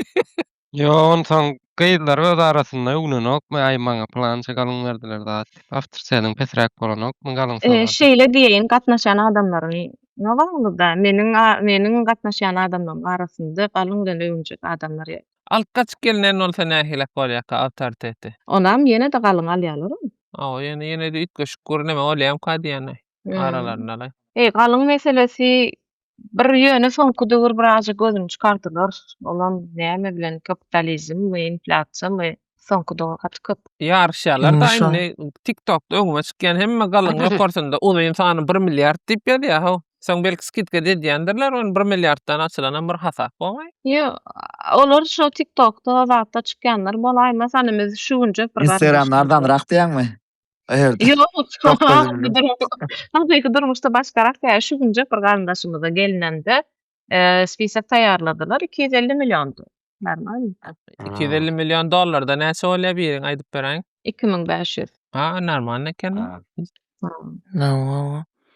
Ýo onsoň gyzlar öz arasynda uglenokmy aý maňa pylança galyň berdiler zat diýip awtor sesiň pesräk bolanokmy galyň sowada. Şeýle diýeýin gatnaşýan adamlaryň ýogalmyda meniň meniň gatnaşýan adamlaryň arasynda galyň bilen öwünjek adamlar ýok. Alyp gaçyp gelinen bolsa nähilek bolýaka awtoriteti. Onam ýenede galyň alýalarmy. Hawa ýöne ýenede üýtgeşik gürleme bolýamka diýýän aý aralarynda laý. Eý galyň meselesi Bir ýöne soňky döwür birazja gözüni çykardylar. Olam näme bilen kapitalizmmi, inflýasiýamy soňky döwür gaty köp. Ýaryşýalarda indi tiktokda öňüme çykýan hemme galyňy okarsyňda uzyn sany bir milliard diýip ýazýa how. Soň belki skidka da edýändirler ony bir milliarddan açylanam bir hasap bogaý. Ýok olar şo tiktokda zatda çykýanlar bolaýmasany biz şu günjek bir. Instagramda arzanrak diýýäňmi? Aýerde. Hakyky durmuşda başgarak ýa şu günjek bir garyndaşymyza gelnende spisak taýýarladylar iki ýüz elli milliondy. Normalny. Iki ýüz elli million dollarda näçe bolýa biriň aýdyp beräýiň. Iki müň bäş ýüz. Ha normalny eken.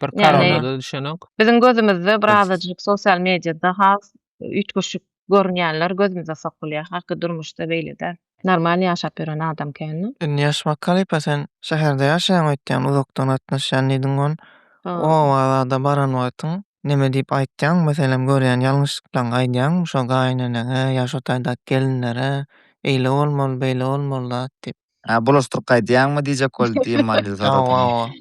Bir karada düşenok. Biziň gözümizde birazajyk sosial mediada has üýtgeşik Görünýänler gözümize sokulýar. Haky durmuşda beýle däl. Normal ýaşap ýören adam känmi? Indi ýaşmak halypa sen şäherde ýaşaýaň öýtýän uzakdan gatnaşýan diýdiň on oba zada baran wagtyň neme diýip aýtýaň meselem görýän ýalňyşlyklaň aýdýaňmy şo gaýyneneňe ýa şo taýdak gelinlere eýle bolmaly beýle bolmaly zat diýip. Hä, bulaşdyryp gaýdýaňmy diýjek boldy diýen manyda sorady ony.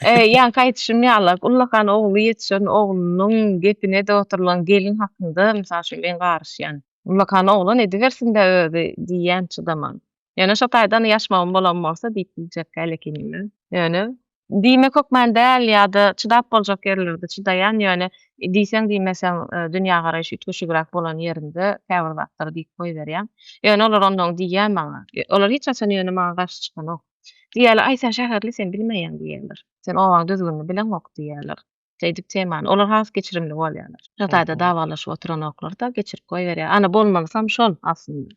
E, ýaňky aýdyşym ýaly, ullakan ogly ýetişen oglunyň gepine-de oturylan gelin hakynda, mysal üçin, men garyşýan. Ullakan oglan edibersin-dä özi diýýän çydaman. Ýöne şo taýdan ýaşmagym bolan bolsa diýip biljekkä elek inmän. Ýöne Diýmek hökmany däl ýa-da çydap boljak ýerlerde çydaýan, ýöne diýseň-diýmeseň dünýägaraýşy üýtgeşigräk bolan ýerinde käbir zatlary diýip goýberýän. Ýöne olar onnoň diýýär maňa. Olar hiç haçan ýöne maňa garşy çykanok. Diýýärler, Aý, sen şäherli, sen bilmeýäň diýýärler. Sen obaň düzgünini bileňok diýýärler. Şeýdip temany, olar has geçirimli bolýarlar. Şo taýda dawalaşyp oturanoklar-da, geçirip goýberýär. Ana, bolmalysam şol aslynda.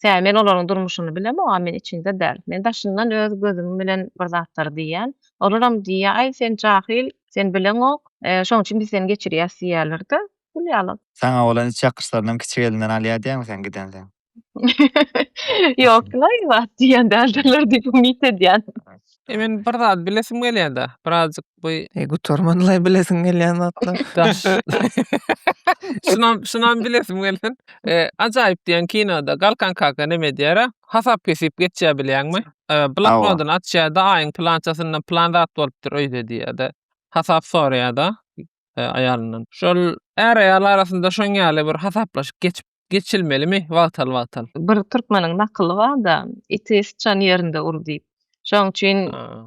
Tä men olaryň durmuşyny bilemok, a men içinde däl. Men daşyndan öz gözüm bilen bir zatlary diýýän. Olaram diýýär, Aý, sen jahyl, sen bileňok, şonuň üçin biz seni geçirýäs diýýärler-de, pul ýaly. Saňa bolan iç ýakyşlarynam kiçi gelinden alýar diýäňmi sen gidensoň? Ýok-la, ilat diýen däldirler diýip umyt edýän. E men bir zat bilesim gelýär-de, birazjyk bu E gutarman-laý bilesiň gelýän zatlar. daş. Şunam, şunam bilesim gelsin. E, Ajaýyp diýen kinoda Galkan kaka näme diýer-ä? Hasap kesip geçýär bilýäňmi? E, bloknodyny açýar-da, aýyň plançasyndan plan zat bolupdyr öýde diýýär-de. Hasap soraýar-da. aýalyndan. Şol är-aýal arasynda şoň ýaly bir hasaplaşyk geçip geçilmelimi wagtal-wagtal? Bir türkmeniň nakyly bar-da, Iti syçan ýerinde ur diýip. Şoň üçin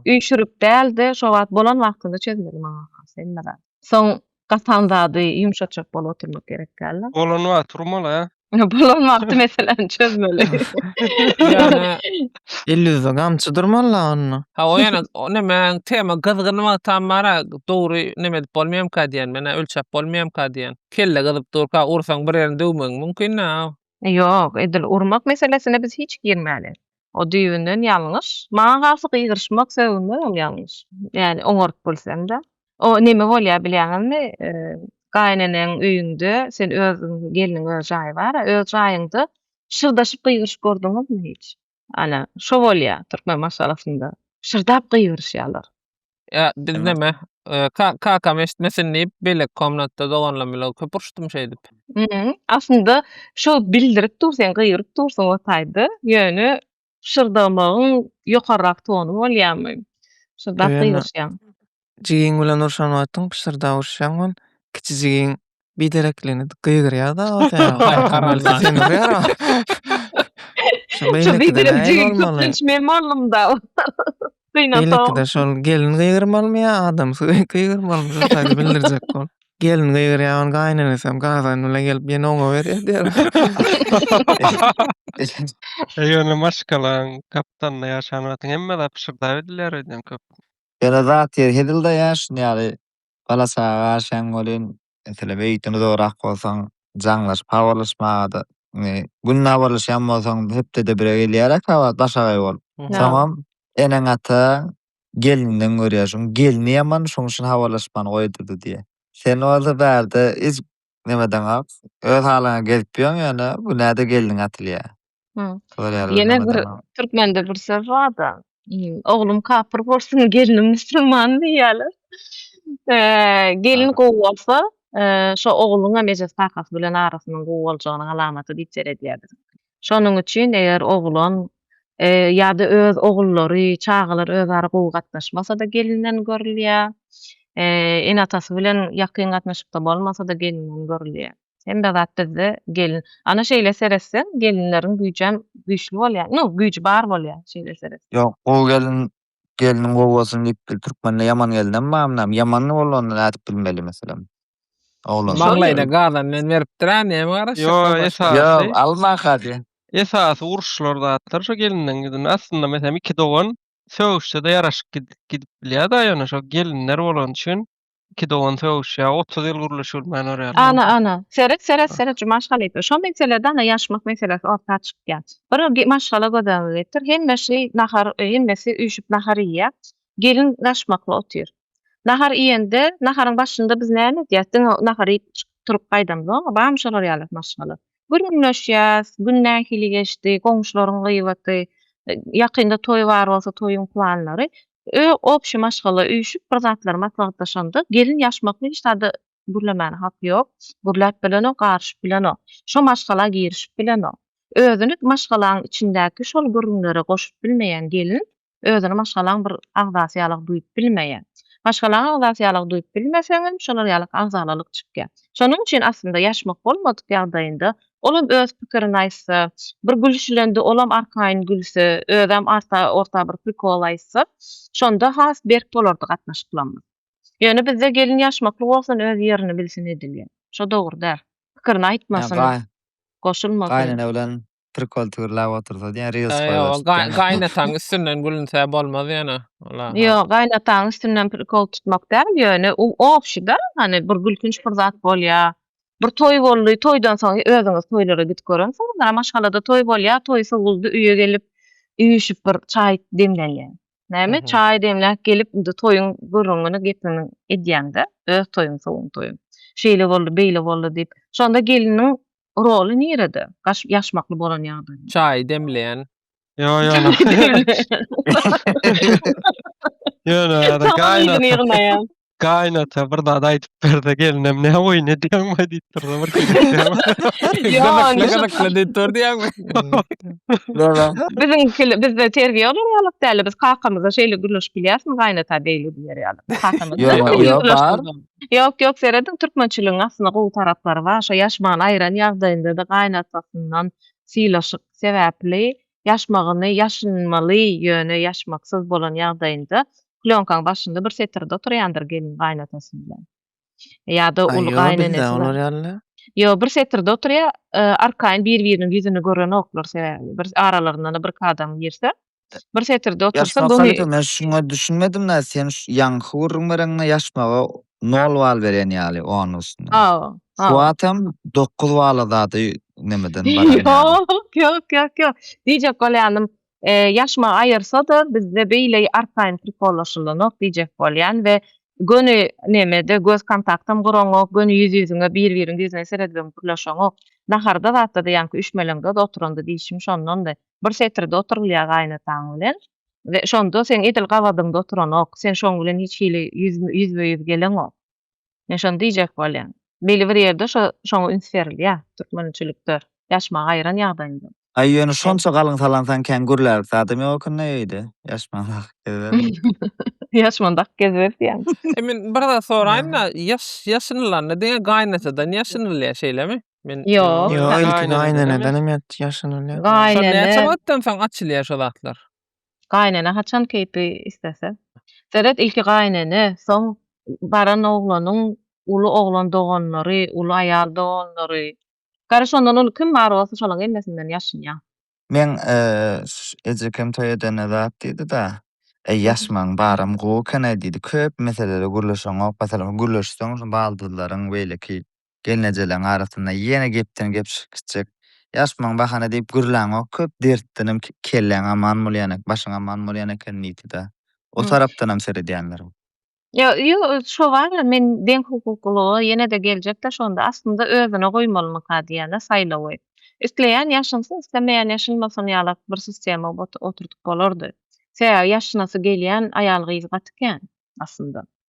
üýşürip däl-de, şo wagt bolan wagtynda çözmeli maňa-ha hemme zat. Soň gapan zady ýumşatjak bolup oturmak gerek däl-de. Bolan wagt urmaly-ä. Bolan wagty meseläni çözmeli. Ýöne Elýuza gamçy durmala onda. Ha o ýana o näme tema gyzgyn wagtam bara dogry näme edip bolmaýamka diýen menä ölçäp bolmaýamka diýen. Kelle gyzyp durka ursaň bir ýerini döwmegiň mümkin-ä. Ýok edil urmak meselesine biz hiç girmäli. O düýbünden ýalňyş. Maňa garşy gygyryşmak, sögünmek ol ýalňyş. Ýani oňaryp bilseň-de. O näme bolýar bilýäňizmi? Gaýynenäňiň öýüňde sen özüň gelniň öz jaýy bar-a, öz jaýyňda pyşyrdaşyp gygyryşyp gördüňizmi hiç? Ana, şo bolýar türkmen maşgalasynda. Pyşyrdap gygyryşýarlar. Ya biz Hemen. neme e, ka, kakam eşitmesin deyip belek komnatda doganlam bilen köp uruşdum şey deyip. Hı, Aslında şo bildirip dur sen gygyryp dursun o taýda. Ýöne şyrdamagyň ýokarrak tonu bolýarmy? Şyrdap Öýüne. gygyryşýaň. Jigiň bilen urşan wagtyň pyşyrda uruşýaň ol. Kiçi jigiň bidereklerini gygyryar da o sen Gargalýan. sen urýar o. Şu Şu beýlekide biderek näme jigim bolmaly? köplenç men boldum da. Gynansam. Beýlekide şol gelin gygyrmalymy ýa adamsy gygy- gygyrmalymy şu taýda bildirjek bol. Gelin gygyrýar ony gaýynenesi hem gazan bilen gelip ýene oňa berýär diýer. Ýöne maşgalaň gapdalynda ýaşan wagtyň hemme zat pyşyrdap edilýär öýdýän köp. Ýöne zat ýeri hezil-de ýa şuny ýaly Bala çaga garşyň welin, meselem, öýütden uzagrak bolsaň, jaňlaşyp habarlaşmaga-da, indi günde habarlaşýan bolsaň, hepdede bire gelýär-ä kabat başagaý bolup. Soňam eneň-ataň gelninden görýär, şoň gelni ýaman, şoň üçin habarlaşmany goýdurdy diýýär. Sen bolsa bärde hiç nemedeňok, öz halyňa gezip ýöň, ýöne günä-de gelniň atylýar. Ýene bir türkmende bir söz bar-da, Oglum kapyr bolsun, gelnim musulman diýýärler. Gelin gowy bolsa, şo ogluňam eje kakasy bilen arasynyň gowy boljagynyň alamaty diýip seredýärler. Şonuň üçin eger oglan ýa-da öz ogullary, çagalar özara gowy gatnaşmasa-da gelinden görülýär. Ene-atasy bilen ýakyn gatnaşykda bolmasa-da gelinden görülýär. Hemme zat bizde gelin. Ana şeýle seretseň gelinleriň güýjem güýçli bolýar. Nu, güýji bar bolýar şeýle seret. Ýok gowy gelin gelniň gowy bolsun diýip bil türkmende ýaman gelinem bar munam ýaman bolanda nädip bilmeli meselem oglan. Maňlaýyna gazan bilen beripdir a näme garaşjak Ýo başga. esasy Ýok alma hadi. esasy uruşlar zatlar şo gelinden gidin aslynda meselem iki dogan sögüşse-de ýaraşyp gidip gidip bilýa-da ýöne şo gelinler bolany üçin Iki dogan sögüşýär. Otuz ýyl gürleşilmän örýär. Ana, ana. Seret, seret, seret şu maşgalyka. Şo meselede ana ýaşmak meselesi orta çykýar. Bir gi maşgala göz öňüňe getir. Hemmeşi nahar, hemmesi üýşüp nahar iýýär. Gelin ýaşmakly otyr. Nahar iýende, naharyň başynda biz näme edýäs? Diňe nahar iýip çykyp turup gaýdamyzam, bamy şolar ýaly maşgala. Gürrüňleşýäs, gün nähili geçdi, goňşularyň gybaty, ýakynda toý bar bolsa toýuň planlary. Ö, obşi maşgala üýşüp bir zatlar maslahatlaşanda, gelin ýaşmakly hiç zada gürlemäne haky ýok. Gürläp bilenok, garyşyp bilenok. Şo maşgala girişip bilenok. Özüni maşgalaň içindäki şol gürrüňlere goşup bilmeýän gelin özüni maşgalaň bir agzasy ýalyk duýup bilmeýär. Maşgalaň agzasy ýalyk duýup bilmeseňem, şolar ýalyk agzalalyk çykýar. Şonuň üçin aslynda ýaşmak bolmadyk ýagdaýynda Olam öz pikirini aýtsa, bir gülüşilende olam arkaýyn gülse, özem arta orta bir prikol aýtsa, şonda has berk bolardy gatnaşyklamyz. Ýöne bizde gelin ýaşmakly bolsun öz ýerini bilsin edilýär. Şo dogry däl. Pikirini aýtmasyn. Goşulmasyn. Gaýnene bilen prikol tigirläp otursa diýen reels goýberşip diýen. Gaýnataň üstünden gülünse bolmaz ýöne. Ýok, gaýnataň üstünden prikol tutmak däl ýöne u obşi-da, hany bir gülkünç bir zat bolýar. Bir toý boldy, toýdan soň özüňiz toýlara gidip görensiňizdir-ä, maşgalada toý bolýar, toý sowuldy, öýe gelip, üýşüp bir çaý demlänleň. Näme, çaý demläp gelip, indi toýuň gürrüňini, gepini edýäň-de, öz toýuň, sowuň toýuň. Şeýle boldy, beýle boldy diýip. Şonda gelniň roly nirede, gaş, ýaşmakly bolan ýagdaýynda? Çaý demleýän, Yo yo. Yo no. Gaýnat. Gaýnat bir zat aýdyp berde gelinem ne oý ne diýen mi diýip durdy bir kişi. Yo no. Gaýnat diýip durdy ýa. Yo no. Biziň kile bizde terbiýe olar ýalyk däli biz kakamyza şeýle gürleşip bilýäsmi gaýnata beýle diýer ýaly. Kakamyz. Yo no. Yo bar. Ýok ýok serediň türkmençiligiň aslynda gowy taraplary bar. Şo ýaşman aýran ýagdaýynda da gaýnatasyndan sylaşyp sebäpli ýaşmagyny ýaşynmaly ýöne ýaşmaksyz bolan ýagdaýynda plýonkaň başynda bir setirde oturýandyr gelin gaýynatasy bilen ýada uly gaýynenesy bilen ýo bir setirde oturýa arkaýyn bir biriniň ýüzüni görenoklar sebäbi bir aralarynda bir kadam girse Bir setirde otursa bu Ýaşmaga men şuňa düşünmedim da sen ýaňky gürrüň bereňde ýaşmaga nol bal berýän ýaly onun üstüne. Hawa. Şu wagt hem dokuz bala zady nemeden barýan ýaly. Ýok, ýok, ýok, ýok. Diýjek bolýanym, ýaşma aýyrsa-da bizde beýle arkaýyn prikollaşylanok diýjek bolýan we göni nemede göz kontaktam guraňok, göni ýüz-ýüzüňe bir-biriň ýüzüne seredibem gürleşeňok. Naharda zatda-da ýaňky üşmeleňde-de oturanda diýşim şondandy. Bir setirde oturylýar gaýynataň bilen we şonda seň edil gabadyňda oturanok, sen şoň bilen hiç hili ýüzbe-ýüz geleňok. Men şony diýjek bolýan. Belli bir ýerde şo şoňa üns berilýär türkmençilikde ýaşmagy aýyran ýagdaýynda. Aý ýöne şonça galyň salansaň kän gürlälik zadam ýok ekeni-de öýde. Ýaşman dak geziberdin. Ýaşman dak geziberdýän. Men bir zat soraýyn-da, ýaş ýaşynylanda diňe gaýynatadan ýaşynylýar şeýlemi? Men Ýok. Ýo, Ýa, ilki gaýneneden gaýnenedenem hem ýat- ýaşanylýar. Şol näçe Gaýnene, wagtdan soň açylýar şo zatlar? gaýnene haçan keýpi islese. Seret, ilki gaýnene, soň baran oglanyň uly oglan doganlary, uly aýal doganlary. Gara şondan uly kim bar bolsa şolaň ellesinden ýaşynýa. Meň ş- ejekem toý edende zat diýdi-de, Eý, ýaşmaň baram gowy eken-aý diýdi. Köp meselede gürleşeňok. Masalan, gürleşseň şu baldyzlaryň beýleki Gelnejeleň arasynda ýene gepden gep çykyp gitjek. Ýaşmaň bahana diýip gürläňok, köp dertdenem kelläň aman bolýan, başyň aman bolýan eken niti-da. O tarapdanam seredýänleriň. Ýa ýo şo bar-a men deň hukuklylyga ýene-de geljek-de şonda aslynda özüne goýmalymyka diýýän-a saýlawy. Isleýän ýaşynsyn, islemeýän ýaşynmasyn ýalak bir sistema oturdyp bolardy. Sebäbi ýaşynasy gelýän aýal-gyz gaty kän aslynda.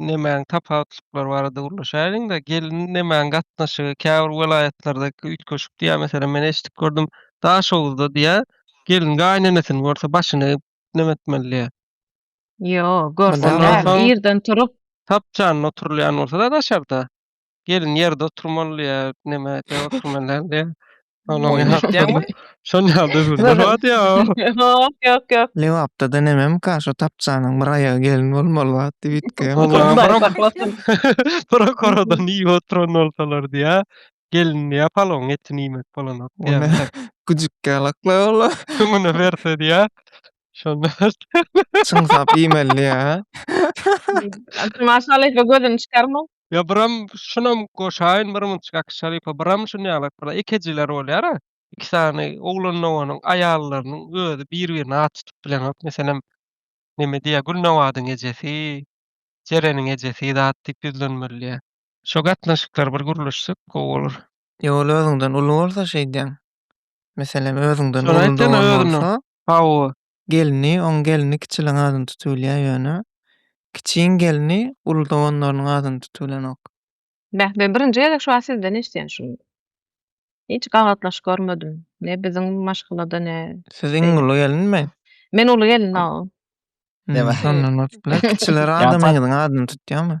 nemäň tapawutlyklary barada gürleşäýeliň-de, gelniň nemäň gatnaşygy, käbir welaýatlardaky üýtgeşik diýýär, meselem, men eşidip gördüm, Daşoguzda diýýär, gelin gaýynenesini görse, başyny neme etmeli diýýär. Ýok, görse Ondan däl, soň- irden turup, Tapjanyna oturylýan bolsa-da daşarda. Gelin ýerde oturmaly ýa neme de oturmaly de. Onuň hakdaýmy? Şon ýalda öwrüldi wagt ýa. Ýok, ýok, ýok. Lebapda da nemem ka şo tapjanyň bir aýagy gelin bolmaly wagt diýip itge. Hudaý saklasyn. Prokoradan iýip oturan bolsalar diýä. Gelin diýä palawyň etini iýmek bolanok diýä. Güjükkä laklap ola. Öňüne berse diýä. Şonda. Çyňsap iýmeli diýä. Maşallah gözüni çykarma. Ýa biram şunam goşaýyn bir munçik aki şalypa biram şun ýalak bir ekejiler bolýara iki sany oglanowanyň aýallarynyň özi bir birine at tutup bileňok meselem neme diýýär gülnawadyň ejesi jereniň ejesi zat diýip ýüzlenmelidiýär. Şo gatnaşyklar bir gürleşsek gowy bolar. Ýa ol özüňden uly bolsa şeýdýäň. Meselem özüňden Şony uly aýtjana dogan özünden. bolsa. Hawa, gelni, oň gelni kiçiligiň adyny tutybylýar ýöne, kiçiň gelni uly doganlarynyň adyny tutybilenok. Beh, men birinji gezek şu wagt sizden eşidýän şuny. Hiç gabatlaş görmedim. Ne biziň maşgalada, ne. Siz iň uly gelinmi? Men uly gelin, hawa. Hm, şondan bolup biler. Kiçiler adamyňyzyň adyny tutýarmy?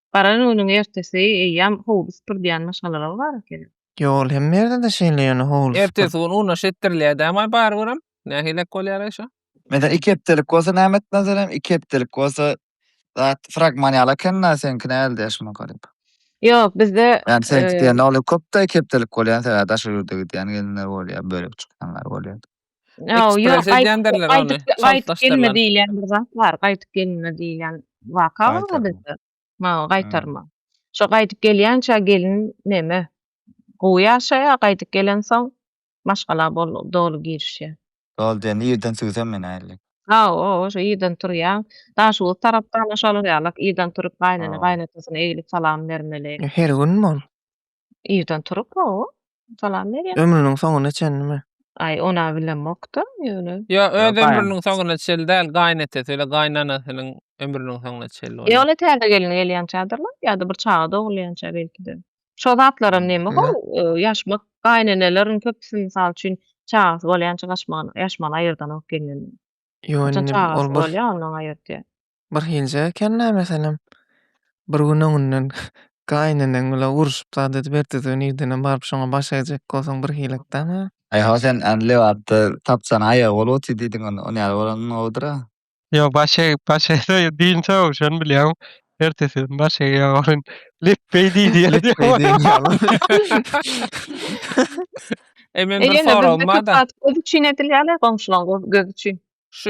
Baran günüň ertesi eýýäm howly süpürdýän maşgalalary bar ekeni. Ýol hemme ýerde-de şeýle ýöne howly süpür. Ertesi gün unaş etdirilýädäm-aý bary görem. Nähilek bolýar-aý şo? Meselem iki hepdelik bolsa näme etmezerem, iki hepdelik bolsa zat fragman ýaly eken-dä, seňki näldä şunuň garyp? Ýok, bizde. Ýani seňki diýende ol köp-de iki hepdelik bolýan sebäbi daşary ýurda gidýän gelinler bolýar, bölek çykýanlar bolýar. Ýok, Ekspres gaýt, edýändirler gaýdyp, ony, gaýdyp çaltlaşdyrlan. gelme diýilýän bir zat bar, gaýdyp gelme diýilýän waka bar Gaýtarma. bizde. Ha, Hä. gaýtarma. Şo gaýdyp gelýänçä gelin neme, gowy ýaşaýar, gaýdyp gelensoň maşgala bol, doly girişýär. Doly diýende irden süýsem men ähli. Hawa, şo irden turýan, Daşoguz tarapda-da şolar ýalak, irden turup gaýnene, Ha. gaýynatasyna eglip salam bermeli. Her gün bol. Irden turup hawa. Salam berýär. Ömrüniň soňuna çenlimi? Aý, ony-a bilemok-da, ýöne. Ýok, öz Ýa, ömrüniň gaýyn. soňuna çenli däl, gaýynatesi bilen gaýynanasynyň ömrüniň soňuna çenli E, bolýar. ol-a täze gelin gelýänçädir-le, ýa-da bir çaga dogulýança belki-de. Şo zatlaram näme Ýa. how, e, ýaşmak, gaýyneneleriň köpüsi, mysal üçin, çagasy bolýança gaçmagan, ýaşmagan aýyrdan alyp gelneniň. Ýok, Haçan indi ol çagasy bir. bolýar, ondan aýyrtýar. birhilije eken nämesenem. Bir gün öňünden gaýyneneň bilen urşup zat edip ertesi irdenem baryp şoňa baş egjek bolsaň birhilek däme. Aý ho sen än lebapda tapjana aýagy bolup otyr diýdiň onda on ýaly bolan gowudyra. Ýok baş egip baş egseň dynçaw şony bilýäň ertesi gün baş egýäň ony lepbeý diýdi ýaly diýýäň. Eý men bir soragym barda. Eýýäm indi köp zat göz üçin edilýärle goňşulaň gözi üçin. Şu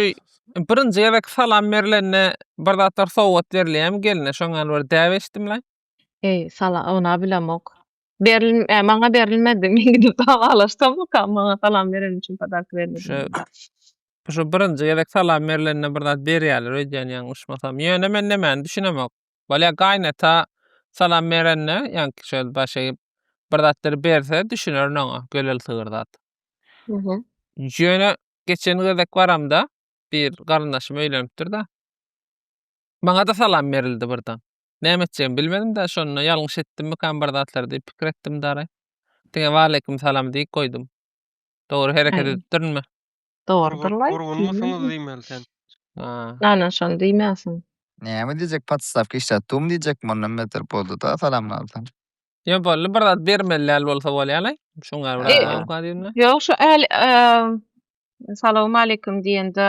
birinji gezek salam berilende bir zatlar sowgat berilýärmi gelne? Şoň ýaly bir däp eşitdimlaý. Eý, sala, ynha bilemok. Berilm, e, maňa berilmedi. Men gidip dagalaşsamykam maňa salam bereni üçin podarka berilmedi. Şu şu birinji gezek salam berilende bir zat berýärler öýdýän ýalňyşmasam. Ýöne men nämäni düşünemok. Bolýa gaýynata salam berende, ýaňky şöyle baş egip bir zatlar berse düşünerin oňa, gölel sygyr zat. Mhm. Ýöne Geçen gezek baramda bir garyndaşym öýlenipdir-de. Maňa-da salam berildi birden. Näme etjegimi bilmedim-de, şonda ýalňyş etdimmikam bir zatlar diýip pikir etdim dary. Diňe waleýkim salam diýip goýdum. Dogry hereket edipdirinmi? Dogrudyr-laý. Gurgunmysyňyz diýmeli sen. Anan şony diýmänsiň. Näme diýjek, podstavka işläp durmy diýjekmi, ondan beter boldy-da salamlardan. Yo bolly bir zat bermeli däl bolsa bolýalaý. Şoň ýaly bir adam kadymda. Ýok şu äl Salam aleyküm diýende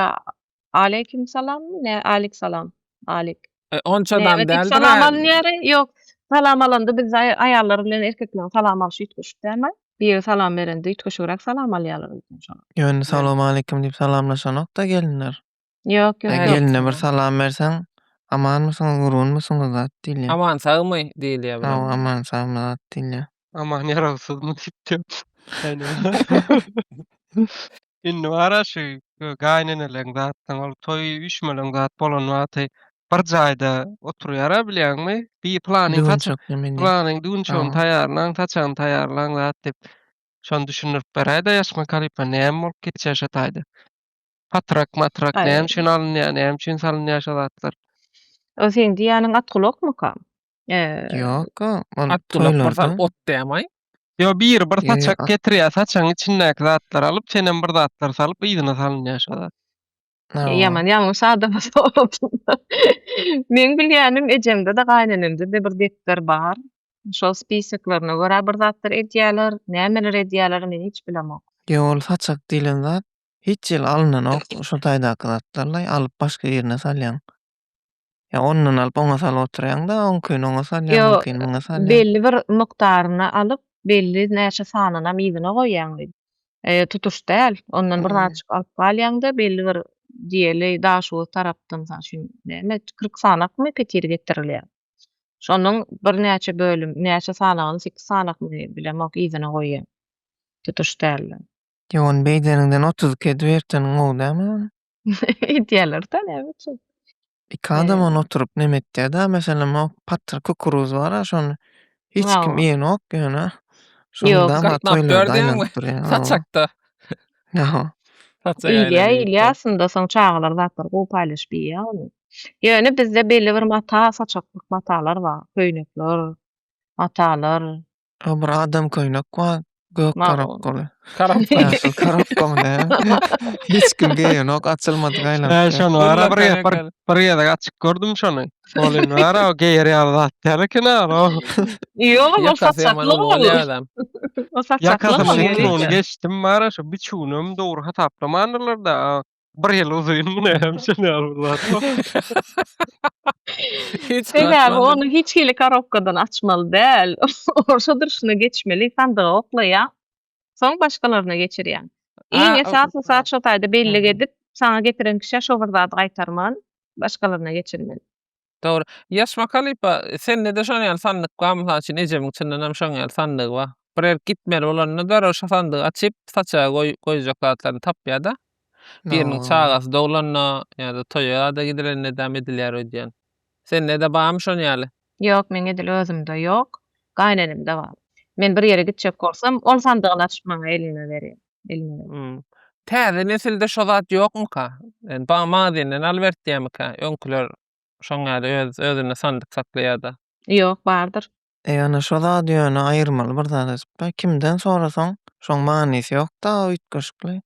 aleyküm salam ne alik salam alik. E, onça adam däldir. Salam alýar. Ýok. Salam alanda biz aýallar bilen erkekler salam alşy ýetişip dälmi? Biri salam berende ýetişigräk salam alýarlar bizden şoň. Ýöne salam aleyküm diýip salamlaşanok-da gelinler. Ýok, ýok. Gelne bir salam berseň, amanmysyňyz, gurgunmysyňyz zat diýilýär. Aman sagmy diýilýär bu. Hawa, aman sagmy zat diýilýär. Aman ýarawsyzmy diýipdim. Indi bar-a şu gaýyneneleriň zatlaryň ol toý üýşmeleň zat bolan wagty bir jaýda oturýar-a bilýäňmi? Bi planyň saçak, planyň düwünçegini taýýarlaň, saçagyny taýýarlaň zat diýip. Şony düşündirip beräý-de Ýaşma Kalypa näme bolup geçýär şo taýda. Patrak matrak Aý. näme üçin alynýar, näme üçin salynýar şo zatlar? O seň diýýäniň at gulakmyka? Eee, Ýok-a, ol At gulak toýlarda. barsan ot dämaý. Ýo biri bir Ýa, saçak a- getirýär, saçagyň içindäki zatlary alyp, sen hem bir zatlar salyp yzyna salynýar şo zat. Ha, o. ýaman ýalňyş adama sorapsyň. Meň bilýänim ejemde-de, gaýynenemde-de bir depder bar. Şol spisoklaryna görä bir zatlar edýärler, nämeler edýärler, men hiç bilemok. Ýo, ol saçak diýlen zat Hiç ýyl alynanok şu taýdaky zatlarlaý alyp başga ýerine salýaň. Ýa ondan alyp oňa salyp oturýaňda oňkyny oňa salýaň Ýo, muňkyny muňa salýaň. belli bir mukdaryny alyp belli näçe sanynam yzyna goýýaň diýip. E, tutuş däl. Ondan bir zatjyk alyp galýaňda belli bir diýeli daşoguz tarapdan mysal üçin näme kyrk sanakmy petir getirilýär. Şonuň birnäçe bölüm näçe sanagyny sekiz sanakmy bilemok yzyna goýýaň. Tutuş dälden. Ýogan beýdeniňden otuz iki edip erteniň gowy dälmi ony? Edýärler-da näme üçin? Iki adam ony oturyp neme etýär-dä, meselem, o patyr kukuruz bar-a, şony hiç kim Hawa. iýenok ýöne. Şony Ýok. dama Gatnap toýlarda berdýäňmi? aýlanyp durýar. Hawa. Saçakda. Hawa. Saçak Iýilýär, aýlanyp iýilýär ýörüpdir. aslynda soň çagalar zatlary gowy paýlaşyp iýýär ony. Ýöne bizde belli bir mata, saçaklyk matalar bar, köýnekler, matalar, O bir adam köýnek bar. Gök Ma'o. karapgoly. Karap. Ýaşyl karapgoly ne? Hiç kim geýenok, açylmadyk Hä, aýlanyp. şony Dur wara lan, bir gezek, bir, gel. bir gezek açyk gördüm şony. Ol indi wara o geýer ýaly zat däl eken ara o. Ýok, ol Ýakasy ýaman saçakly ol. owal adam. O saçakly Ýakasynyň ol. Ýakasynyň ugruna geçdim bara şu biçüwinem dogry hasaplamandylar-da. a, Bir ýyl uzyn muny hem çenäl bular. Sebäbi ony hiç hili korobkadan açmaly däl. Orsa durşuna geçmeli, sandyga oklaýa. Soň başgalaryna geçirýä. Iň esasy zat şo taýda bellik edip, saňa getiren kişä şo bir zady gaýtarman, başgalaryna geçirmeli. Dogry. Ýaş waka lypa, sendede şon ýaly sandyk bar, mysal üçin ejemiň çyndanam şoň ýaly sandygy bar. Bir ýerik gitmeli bolanda derrew şo sandygy açyp, saçaga goý goýjak zatlaryny tapýada. Biriniň çagasy doglanda ýada toýa-da gidilende däm edilýär öýdýän. Sendede barmy şon ýaly? Ýok, meň edil özümde ýok. Gaýynenemde bar. Men bir ýere gitjek bolsam, ol sandygyny açyp maňa elime berýär. elmere. Hum. Täze nesilde şo zat ýokmyka? Ýani ba magazenden alybertýärmika? Öňküler şoň ýaly öz özünde sandyk saklaýada. Ýok, bardyr. Ýöne şo zady ýöne aýyrmaly bir zat asypda. Kimden sorasaň şoň manysy ýokda üýtgeşikli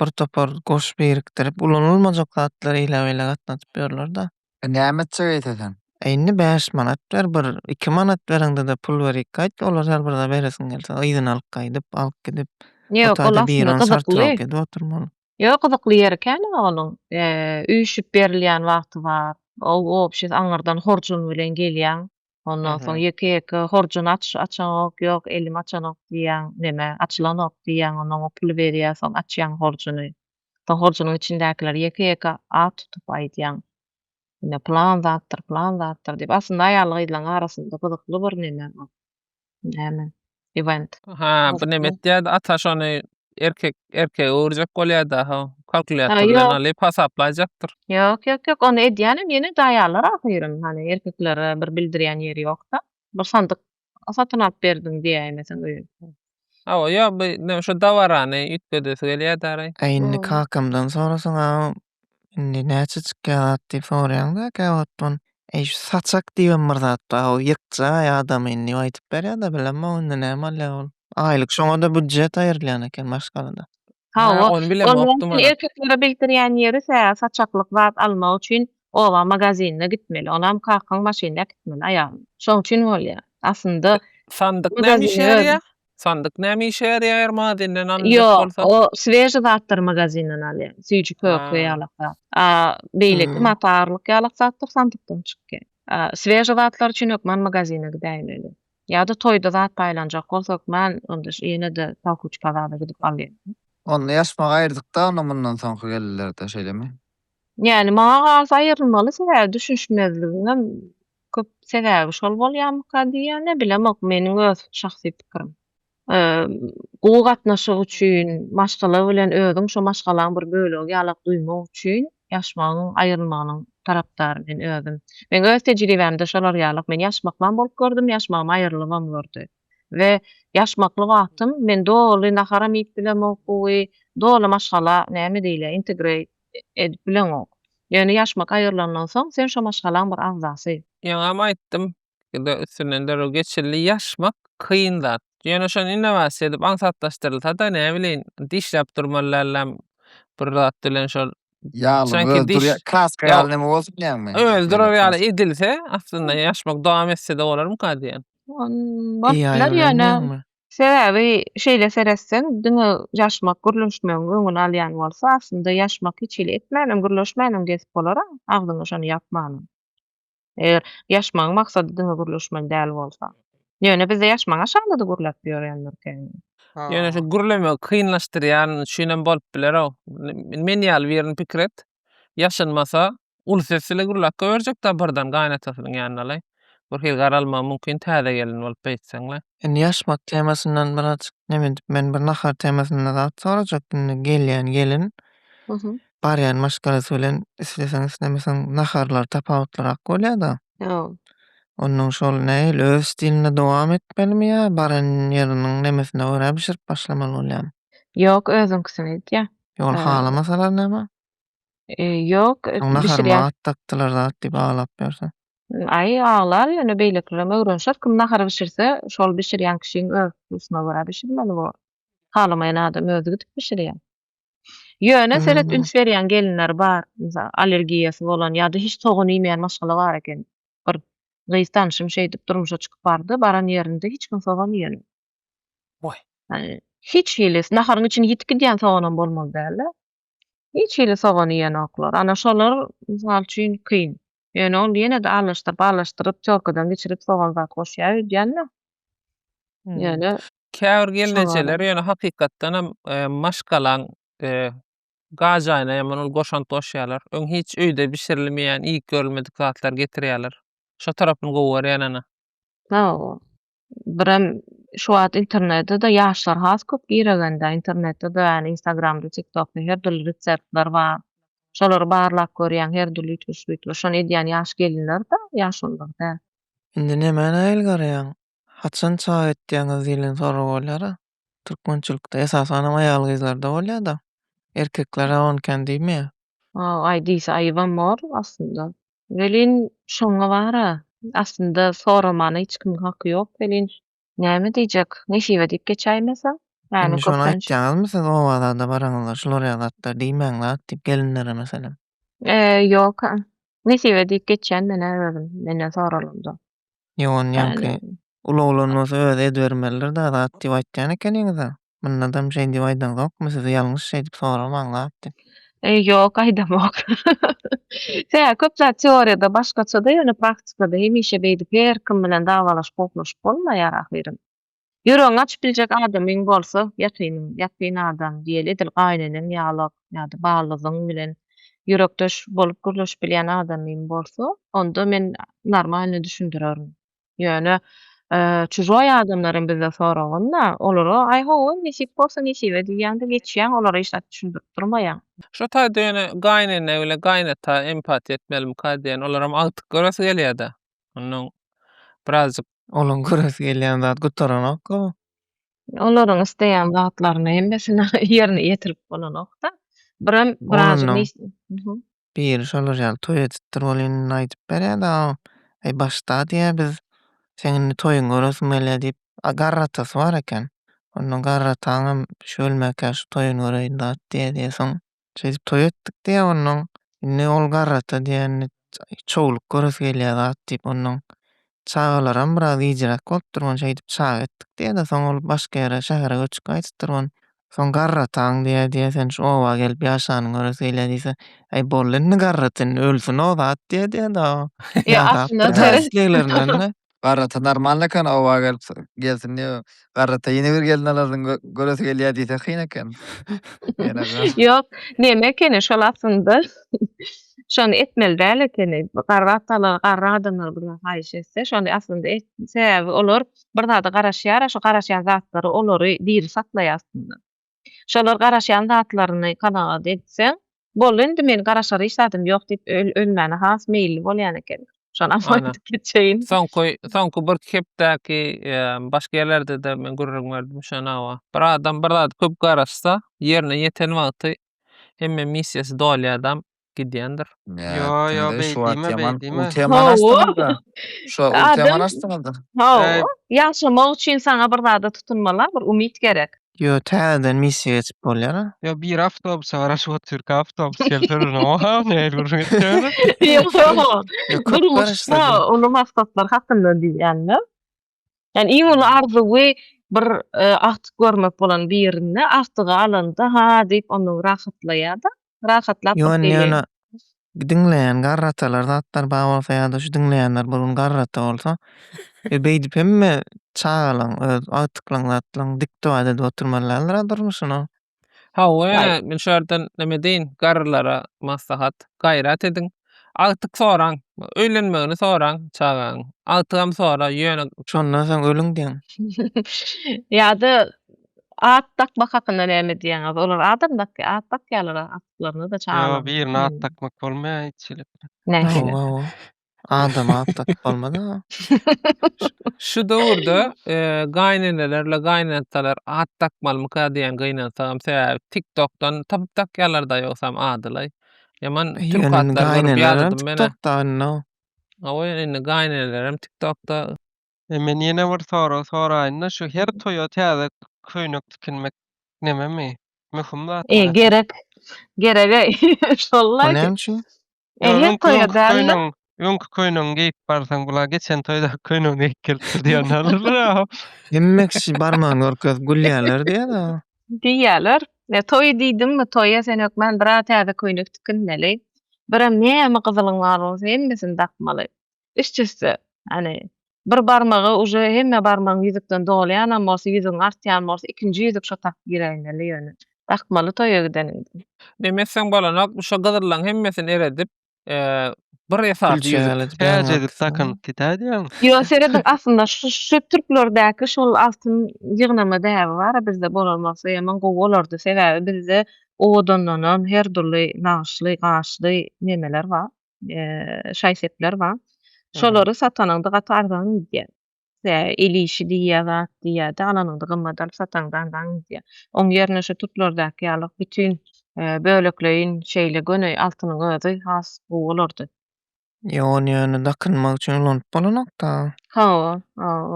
bir topar goş birikdirip ulanylmajak zatlary eýle beýle gatnadyp ýörlerde. E näme etjek eýseseň. E indi bäş manat ber bir iki manat bereňdede pul berik gaýt olar her bir zat beresiň gelse yzyna alyp gaýdyp alyp gidip Ýok ol aslynda gyzykly. edip oturmaly. Ýok gyzykly ýeri kän onuň üýşüp berilýän wagty bar o obşis aňyrdan horjun bilen gelýäň Ondan soň ýeke-ýeke horjuny aç, açaňok, ýok, elim açanok diýýäň, näme, açylanok diýýäň, ondan oň puly berýär, soň açýaň horjuny. Soň horjunyň içindäkileri ýeke-ýeke at tutup aýdýaň. Ine, pylan zatdyr, pylan zatdyr diýip. Aslynda aýal-gyzlaň arasynda gyzykly bir näme bu. näme event. Ha, bu näme etýärdi? Ata şony erkek erkege öwürjek bolýarda, ha. Kalkulýator bilen ýok. alyp hasaplaýjakdyr. Ýok, ýok, ýok, ony edýänem ýene daýalar ahyryn. Hany erkeklere bir bildirýän ýeri ýok-da. Bir sandyk satyn alyp berdim diýäýmeseň öýün. Hawa, ýa bu näme şu dabarany üýtgedesi gelýärdi araý. Indi kakamdan sorasaň-a Indi näçejik gabat diýip soraýaňda gabatdan. Eý şu saçak diýibem bir zat bar. O ýykjaý adam indi aýdyp berýär-de bilemok indi näme bolýar ol. Aýlyk şoňa-da býudjet aýrylýan eken maşgalada. Hawa, ol ýaňky erkeklere bildirýän ýeri tä saçaklyk zat almak üçin oba magazinine gitmeli. Onam kakaň maşynda äkitmeli aýalyny. Şoň üçin bolýar. Aslynda. Sandyk näme işe ýaraýar? Sandyk näme işe ýaraýar mazinden alynjak Ýok, bolsa? o sveži zatlary magazinden alýan. Süýji kök we Ha. ýalak zat. A, beýleki Hmm. mata agyrylyk ýalak zatlar sandykdan çykýar. A, sveži zatlar üçin hökman magazine gidäýmeli. Ýa-da toýda zat paýlanjak bolsa hökman onda ş- ýene-de pahuç bazarda gidip alýan. Onda ýaşmagy aýyrdykda onda mundan soňky gelinlerde şeýlemi? Ýani maňa galsa aýyrylmaly sebäbi düşünişmezligiňem Köp sebäbi şol bolýarmyka diýýän nebilemok meniň öz şahsy pikirim. Gowy gatnaşyk üçin maşgala bilen özüň şo maşgalaň bir bölegi ýalak duýmak üçin ýaşmagyň aýrylmagynyň tarapdary men özüm. Meň öz tejribämde şolar ýalak men ýaşmaklam bolup gördüm ýaşmagym aýrylybam gördi we ýaşmakly wagtym men doly naharam iýip bilemok gowy doly maşgala näme diýilýär integrate edip bileňok. Ýöne ýaşmak aýrylandan soň, sen şo maşgalaň bir agzasy. Ýeňňäm aýtdym, ikide üstünden derrew geçildi. Ýaşmak kyn zat. Ýöne şony innowasiýa edip aňsatlaşdyrylsa-da, näbileýin, dişläp durmaly dälläm bir zat bilen şol. Ýaly, öli durýar, kraska ýaly näme bolsun diýýäňmi? Öli durar ýaly edilse, aslynda ýaşmak dowam etse-de bolarmyka diýýän. Bolup biler ýöne. Sebäbi şeýle seretseň, diňe ýaşmak, gürleşmegiň öňüni alýan bolsa, aslynda ýaşmak hiç hili etmänem, gürleşmänem gezip bolar-a, agzyňy şony ýapmanam. Eger ýaşmagyň maksady diňe gürleşmeli däl bolsa. Ýöne bizde ýaşmagy aşagynda-da gürläp ýörýändirkäýin. Ýöne şu gürlemegi kynlaşdyrýan üçinem bolup biler-ow. Men ýaly birini pikir et. Ýaşanmasa, Uly ses ile gürläp goýberjek-dä birden gaýynatasynyň ýanynalaý. Birhili garalmagy mümkin täze gelin bolup beýtseň-le. Indi ýaşmak temasyndan birazajyk neme edip, men bir nahar temasynda zat sorajak. Indi gelýän gelin barýan maşgalasy bilen isleseň-islemeseň naharlary tapawutlyrak bolýa-da. Onnoň şol nähili öz stilinde dowam etmelimi ýa baran ýeriniň nemesine görä bişirip başlamaly bolýamy? Ýok, özüňkisini edýär. Ýa ol halamasalar näme? Ýok, bişirýän. Takdylar zat diýip aglap ýörse. Aý, aglar ýöne beýlekilerem öwrenişer. Kim nahar bişirse, şol bişirýän kişiň öz hususyna görä bişirmeli bu. Halamaýan adam özi gidip bişirýär. Ýöne seret üns berýän gelinler bar. Mysal, allergiýasy bolan ýa-da hiç sogan iýmeýän maşgala bar eken. Bir gyz tanşym şeýdip durmuşa çykyp bardy, baran ýerinde hiç kim sogan iýen. Waý. Hiç hili naharyň içini ýitip gidýän soganam bolmaly däldi. Hiç hili sogan iýenoklar. Ana şolar mysal üçin kyn. Ýöne ol ýene-de arlaşdyryp arlaşdyryp týorkadan geçirip sogan zat goşýar öýdýänler. Ýöne Käbir gelnejeler ýöne hakykatdanam maşgalaň gajaýyna ýaman ol goşant goşýarlar. Öň hiç öýde bişirilmeýän iýip görülmedik zatlar getirýärler. Şo tarapyny gowy görýän ana. Hawa. birem şu wagt internetde-de ýaşlar has köp giregende, internetde-de ýagny instagramda, tiktokda her dürli reseptler bar. Şolary barlap görýäň, her dürli üýtgeşik-üýtgeşik. Şony edýän ýaş gelinler-de, ýaşulular däl. Indi nämäni aýylgarýaň? Haçan çaý etýäňiz diýlen sorag bolýar-a. Türkmençilikde esasanam aýal-gyzlarda bolýar-da. Erkeklere on kän diýmeýär. Waw, aý diýse aýybam bor aslynda. Welin şoňa bar-a. Aslynda soramana hiç kimiň haky ýok welin, näme diýjek, nesibe diýip geçäýmese. Indi şony aýtýaňyzmy siz oba-zada baraňyzda, şular ýaly zatlar diýmäň-la-at diýip gelinlere meselem? Ýok-a. Nesibe diýip geçýän men-ä özüm, menden soralyanda. Ýok, onuň ýaňky ulaglanmasy özi edibermelidir da zat diýip aýtýan ekeniňiz-ä. Mundadam şeý diýip aýdaňzokmy siz ýalňyş şeý diýip soramaň zat diýip. E, ýok, aýdamok. Tä köp zat teoriýada başgaça-da, ýöne praktikada hemişe beýdip her kim bilen dawalaşyp-gohlaşyp bolmaýar ahyryn. Ýüregiňi açyp biljek adamyň bolsa, ýakynyň, ýakyn adam, diýeli edil gaýyneneň ýalak ýa-da ballyzyň bilen ýürekdeş bolup gürleşip bilýän adamyň bolsa, onda men normalny düşündirerin. Ýöne çujoý adamlar hem bizde soragynda, olara aý hawa, nesip bolsa nesibe diýýäň-de geçýäň, olara hiç zat düşündirip durmaýaň. Şo taýda ýöne gaýynene bile gaýynata empatiýa etmelimika diýen, olar hem agtyk göresi gelýär-dä. Ondan birazjyk olaň göresi gelýän zat gutaranok-a. Olaryň isleýän zatlaryny hemmesini ýerine ýetirip bolanok-da. Birem birazjyk Ondan nesi Hä. biri şolar ýaly toý edipdir. Ol indi aýdyp berýär dagam. Aý, başda diýýär, biz seň indi toýuňy göresim gelýär diýip, a garry atasy bar eken. Ondan garry ataňam şu ölmäkä şu toýuny göreýin dat diýýär diýersiň. Şeýdip toý etdik diýýär onnoň. Indi ol garrata diýen çowluk göresi gelýär zat diýip onnoň çagalaram biraz gijräk bolupdyr ony şeýdip çaga etdik diýýär-de soň ol başga ýere şähere göçüp gaýdypdyr ony. Soň garrataň diýýär diýýär sen şu oba gelip ýaşanyň göresi gelýär diýse äý boldy indi garrat indi ölsün-ow zat diýýär diýýär-de o. Ýa aslynda teres. Garrata normalny eken oba gelip gelsin diýip garrata ýene bir gelin alarsyň göresi gelýä diýse kyn eken. Ýok neme ekeni şol aslynda şony etmeli däl ekeni garratalar garry adamlar bilen haýyş etse şony aslynda et sebäbi olar bir zada garaşýara şu garaşýan zatlary olary diri saklaýa aslynda. Şolar garaşýan zatlaryny kanagat etseň, Boldy indi, meniň garaşar hiç zadym ýok diýip ölmäne has meýilli bolýan ekeniň. Şonam Ana. aýdyp geçeýin. Soňky, soňky bir hepdäki başga ýerlerde-de men gürrüň berdim şuny hawa. Bir adam bir zady köp garaşsa, ýerine ýeten wagty hemme missiýasy dolýadam, gidýändir. Ýa kimde şu wagt ýaman ultiaman açdyňyzda. Şu wagt ultiaman açdyňyzda. Hawa. Ýaşamak üçin saňa bir zada tutunmala bir umyt gerek. Ýo täzeden missiýa geçip bolýar. Ýo biri awtobusa garaşyp otyr ki awtobus gelse durna oha nähili gürrüň etýäni. Ýo köp garaşsa. Durmuşda uly maksatlar hakynda diýýänler. Ýani iň uly arzuwy bir agtyk görmek bolan birinde agtygy alanda ha diýip ondan rahatlaýada. Rahatlap bir Ýone ýöne diňleýän garratalar zatlar bar bolsa ýa-da şu diňleýänler bir gün garrata bolsa e, beýdip hemme çagalaň öz agtyklaň zatlaň dikdewat edip oturmaly däldir-a durmuşyny. Hawa, Aý. men şu ýerden näme diýin, garrylara maslahat, gaýrat ediň, agtyk soraň, öýlenmegini soraň çagaň, agtygam sora, ýöne, Şondan soň ölüň diýiň. Ýa-da at dakmak hakynda näme diýýäňiz? Olar adam dakýar, at dakýarlar agtyklaryna-da, Ýo, çagalaryna-da. birine at dakmak bolmaýar hiç hili. Nähili? Hawa, hawa. Adamy atlatyp bolmaz aga. Şu döwürde gaýynenelerle gaýynatalar at dakmalymyka diýen gynansagam sebäbi tiktokdan tapyp dakýalar da ýogsam adylaý. Ýaman türk atlary görüp ýadadym men. Tiktokda indi. Awa indi gaýynenelerem tiktokda. Men ýene bir sorag soraýynda şu her toýa täze köýnek tikinmek nememi? Möhüm zatmy? Gerek. Gereg-eý. Şollaý. O näme üçin? Ehe toýa dälde. Öňki köýnüň geýip barsaň bula geçen toýda köýnüň geýip gelipdir diýen alyrlar. Hemme kişi barmagyny görkezip gülýärler diýýär-de. Diýýärler. Ne toýy diýdiňmi, toýa sen hökman bir-a täze köýnek tikinmeli. Bir-em näme gyzylyň bar bolsa hemmesini dakmaly. üst-üste, ýagny bir barmagy uje hemme barmagyň ýüzükden dolýanam bolsa, ýüzügiň artýan bolsa, ikinji ýüzük şo takyp giräýmeli ýöne. Dakmaly toýa gideniňde. Neme etseň bolanok, şo gyzyrlaň hemmesini eredip, bir esasy ýüzük. Täjedi takynyp gidäýdäň. Ýo, serediň aslynda şu türklerdäki şol altyn ýygnama däbi bar-a bizde bolan bolsa ýaman gowy bolardy. Sebäbi bizde owadandanam her dürli nagyşly, gaşly nemeler bar. şaý-sepler bar. Şolary satanyňda gaty arzan gidýär. El işi diýýär, zat diýýär-de, alanyňda gymmat alyp sataňda arzan gidýär. Oň ýerine şu tutlardaky ýaly bütin bölekleýin şeýle göni altynyň özi has gowy bolardy. Ýa ony ýöne dakynmak üçin ulanyp bolanok-da. Hawa,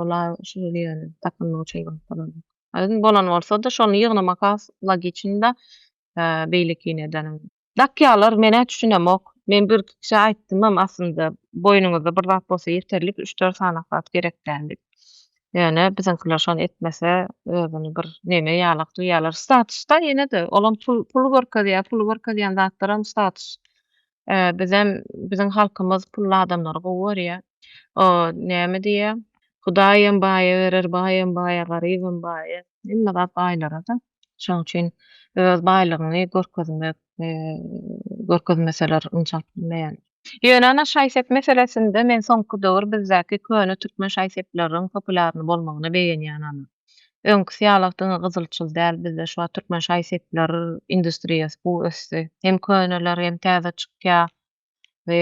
ol-a şol ýöne dakynmak üçin ulanyp bolanok. Ýöne bolan bolsa-da, şony ýygnamak has logiçnyda beýlekini edeniň. Dakýalar menä düşünemok. Men bir kişä aýtdymam aslynda boýnuňyzda bir zat bolsa ýeterlik üç dört sany zat gerek däl diýip. Ýöne biziňkiler şony etmese özüni bir neme ýalak duýýarlar. Statusda ýene-de olam pul puly görkezýär, puly görkezýän zatlaram status. Bizem biziň halkymyz pully adamlary gowy görýär. O näme diýýär? Hudaýam baýa berer, baýam baýa, garybam baýa. Hemme zat baýlara-da. Şonuň üçin öz baýlygyňy görkezmek, görkezmeseler ynjalp bilmeýän. Ýöne ana şaý-sep meselesinde men soňky döwür bizdäki köne türkmen şaý-sepleriň populýarny bolmagyna begenýän ana. Öňküsi ýalak diňe gyzylçyl däl bizde şu wagt türkmen şaý-sepler industriýasy gowy ösdi. Hem köneler hem täze çykýa. we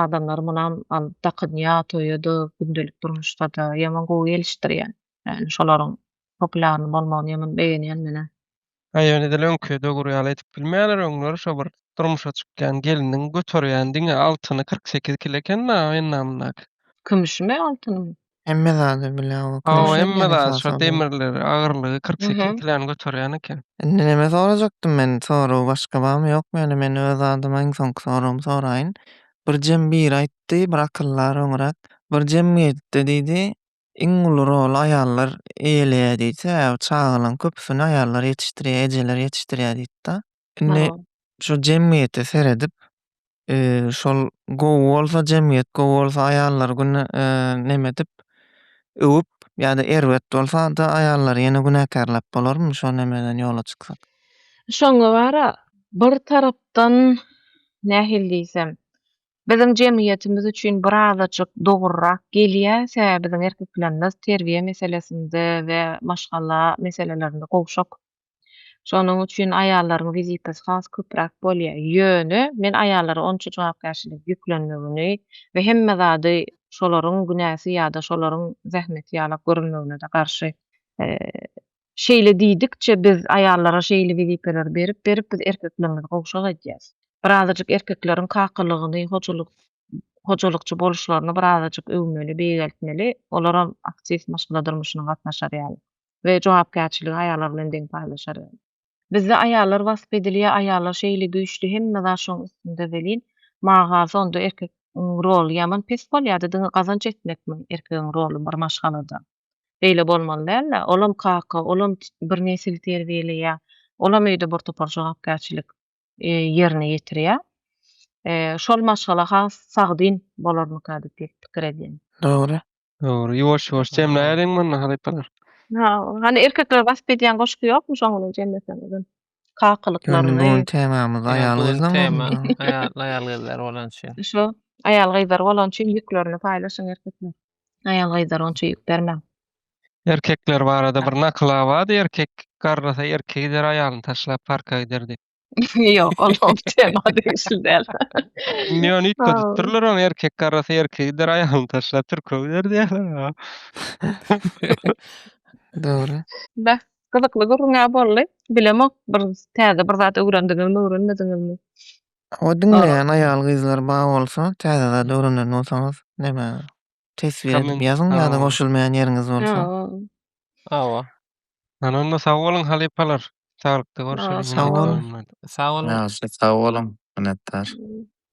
adamlar munam al dakynýa toýada gündelik durmuşda-da ýaman gowy gelişdirýän. Ýani şolaryň populýarny bolmagyny ýaman begenýän menä. Aý ýöne edil öňki döwür ýaly edip bilmeýäler öňler şo bir durmuşa çykýan gelniň göterýän diňe altyny kyrk sekiz kilo eken-da enna-mundaky. Kümüşimi altynymy? Hemme zady bile o Hawa, köşe hemme diýen zat esasy şo ol. demirleri, agyrlygy 48 Mhm. kilony göterýän eken. Indi näme sorajakdym men? Soragy başga barmy, ýokmy? Ýöne men öz adyma iň soňky soragymy soraýyn. Birjem biri aýtdy, bir akyldar öňräk, Bir jemgyýetde diýdi, iň uly roly aýallar eýeleýär diýdi. Sebäbi çagalaryň köpüsini aýallar ýetişdirýär, ejeler ýetişdirýär diýdi-de. Indi Hawa. şu jemgyýete seredip, eee, şol gowy bolsa, jemgyýet gowy bolsa, aýallar güne, eee, neme edip, öwüp, ýa-da erbet bolsa-da aýallary ýene günäkärläp bolarmy şo nemeden ýola çyksak? Şoňa bar-a, bir tarapdan, nähili diýsem, biziň jemgyýetimiz üçin bir azajyk dogrurak gelýär, sebäbi biziň erkeklerimiz terbiýe meselesinde we maşgala meselelerinde gowşak. Şonuň üçin aýallaryň wizitasy has köpräk bolýar. Ýöne, men aýallara onça jogapkärçilik ýüklenmegini we hemme zady şolaryň günäsi ýa-da şolaryň zähmeti ýalak görülmegine-de garşy. Şeýle diýdikçe, biz aýallara şeýle wezipeleri berip-berip, biz erkeklerimizi gowşak edýäs. Birazajyk erkekleriň kakalygyny, hojalyk, hojalykçy boluşlaryny birazajyk öwmeli, beýgeltmeli, olaram aktiw maşgala durmuşyna gatnaşar ýaly. we jogapkärçiligi aýallar bilen deň paýlaşar. Bizde aýallar wasp edilýär, aýallar şeýle güýçli hemme zat şoň üstünde welin magalsa onda erkek iň roly ýaman pes bolýarda diňe gazanç etmekmi erkegiň roly bir maşgalada beýle bolmaly dälda olam kaka olam bir nesil terbiýeleýär olam öýde bir topar jogapkärçilik ýerine ýetirýär. Şol maşgala has sagdyn bolarmyka diýip pikir edýän. Dogry. Dogry. Ýuwaş ýuwaş jemläýeliň mundan halypalar. Ha, hany erkekler basp edýän goşgy ýokmy şoň bilen jemleseňizem. Kakylyklaryny. Bugün temamyz aýal gyzlaň bolsun. Aýal gyzlar bolan üçin. Şu aýal gyzlar bolan üçin ýüklerini paýlaşyň erkekler. Aýal gyzlar onça ýük bermäň. Erkekler barada bir nakyl-a bardy, erkek garrasa erki gider aýalyny taşlap parka gider diýip. Ýok, ol o tema degişli däl. Indi ýöne üýtgedipdirler ony, erkek garrasa erki gider aýalyny taşlap türke gider diýýärler. Dogry. Beh, gyzykly gürrüň-ä boldy. Bilemok, bir täze bir zat öwrendiňizmi, öwrenmediňizmi? Hawa, diňleýän aýal-gyzlar bar bolsa, täze zat öwrenen bolsaňyz, näme, teswir edip ýazyň ýa-da Hawa. goşulmaýan ýeriňiz bolsa. Hawa. Hawa. Ýöne onda sag boluň, halypalar. Saglyk-da görüşeris. Sag boluň. Sag boluň. Ýagşy, sag boluň, minnetdar.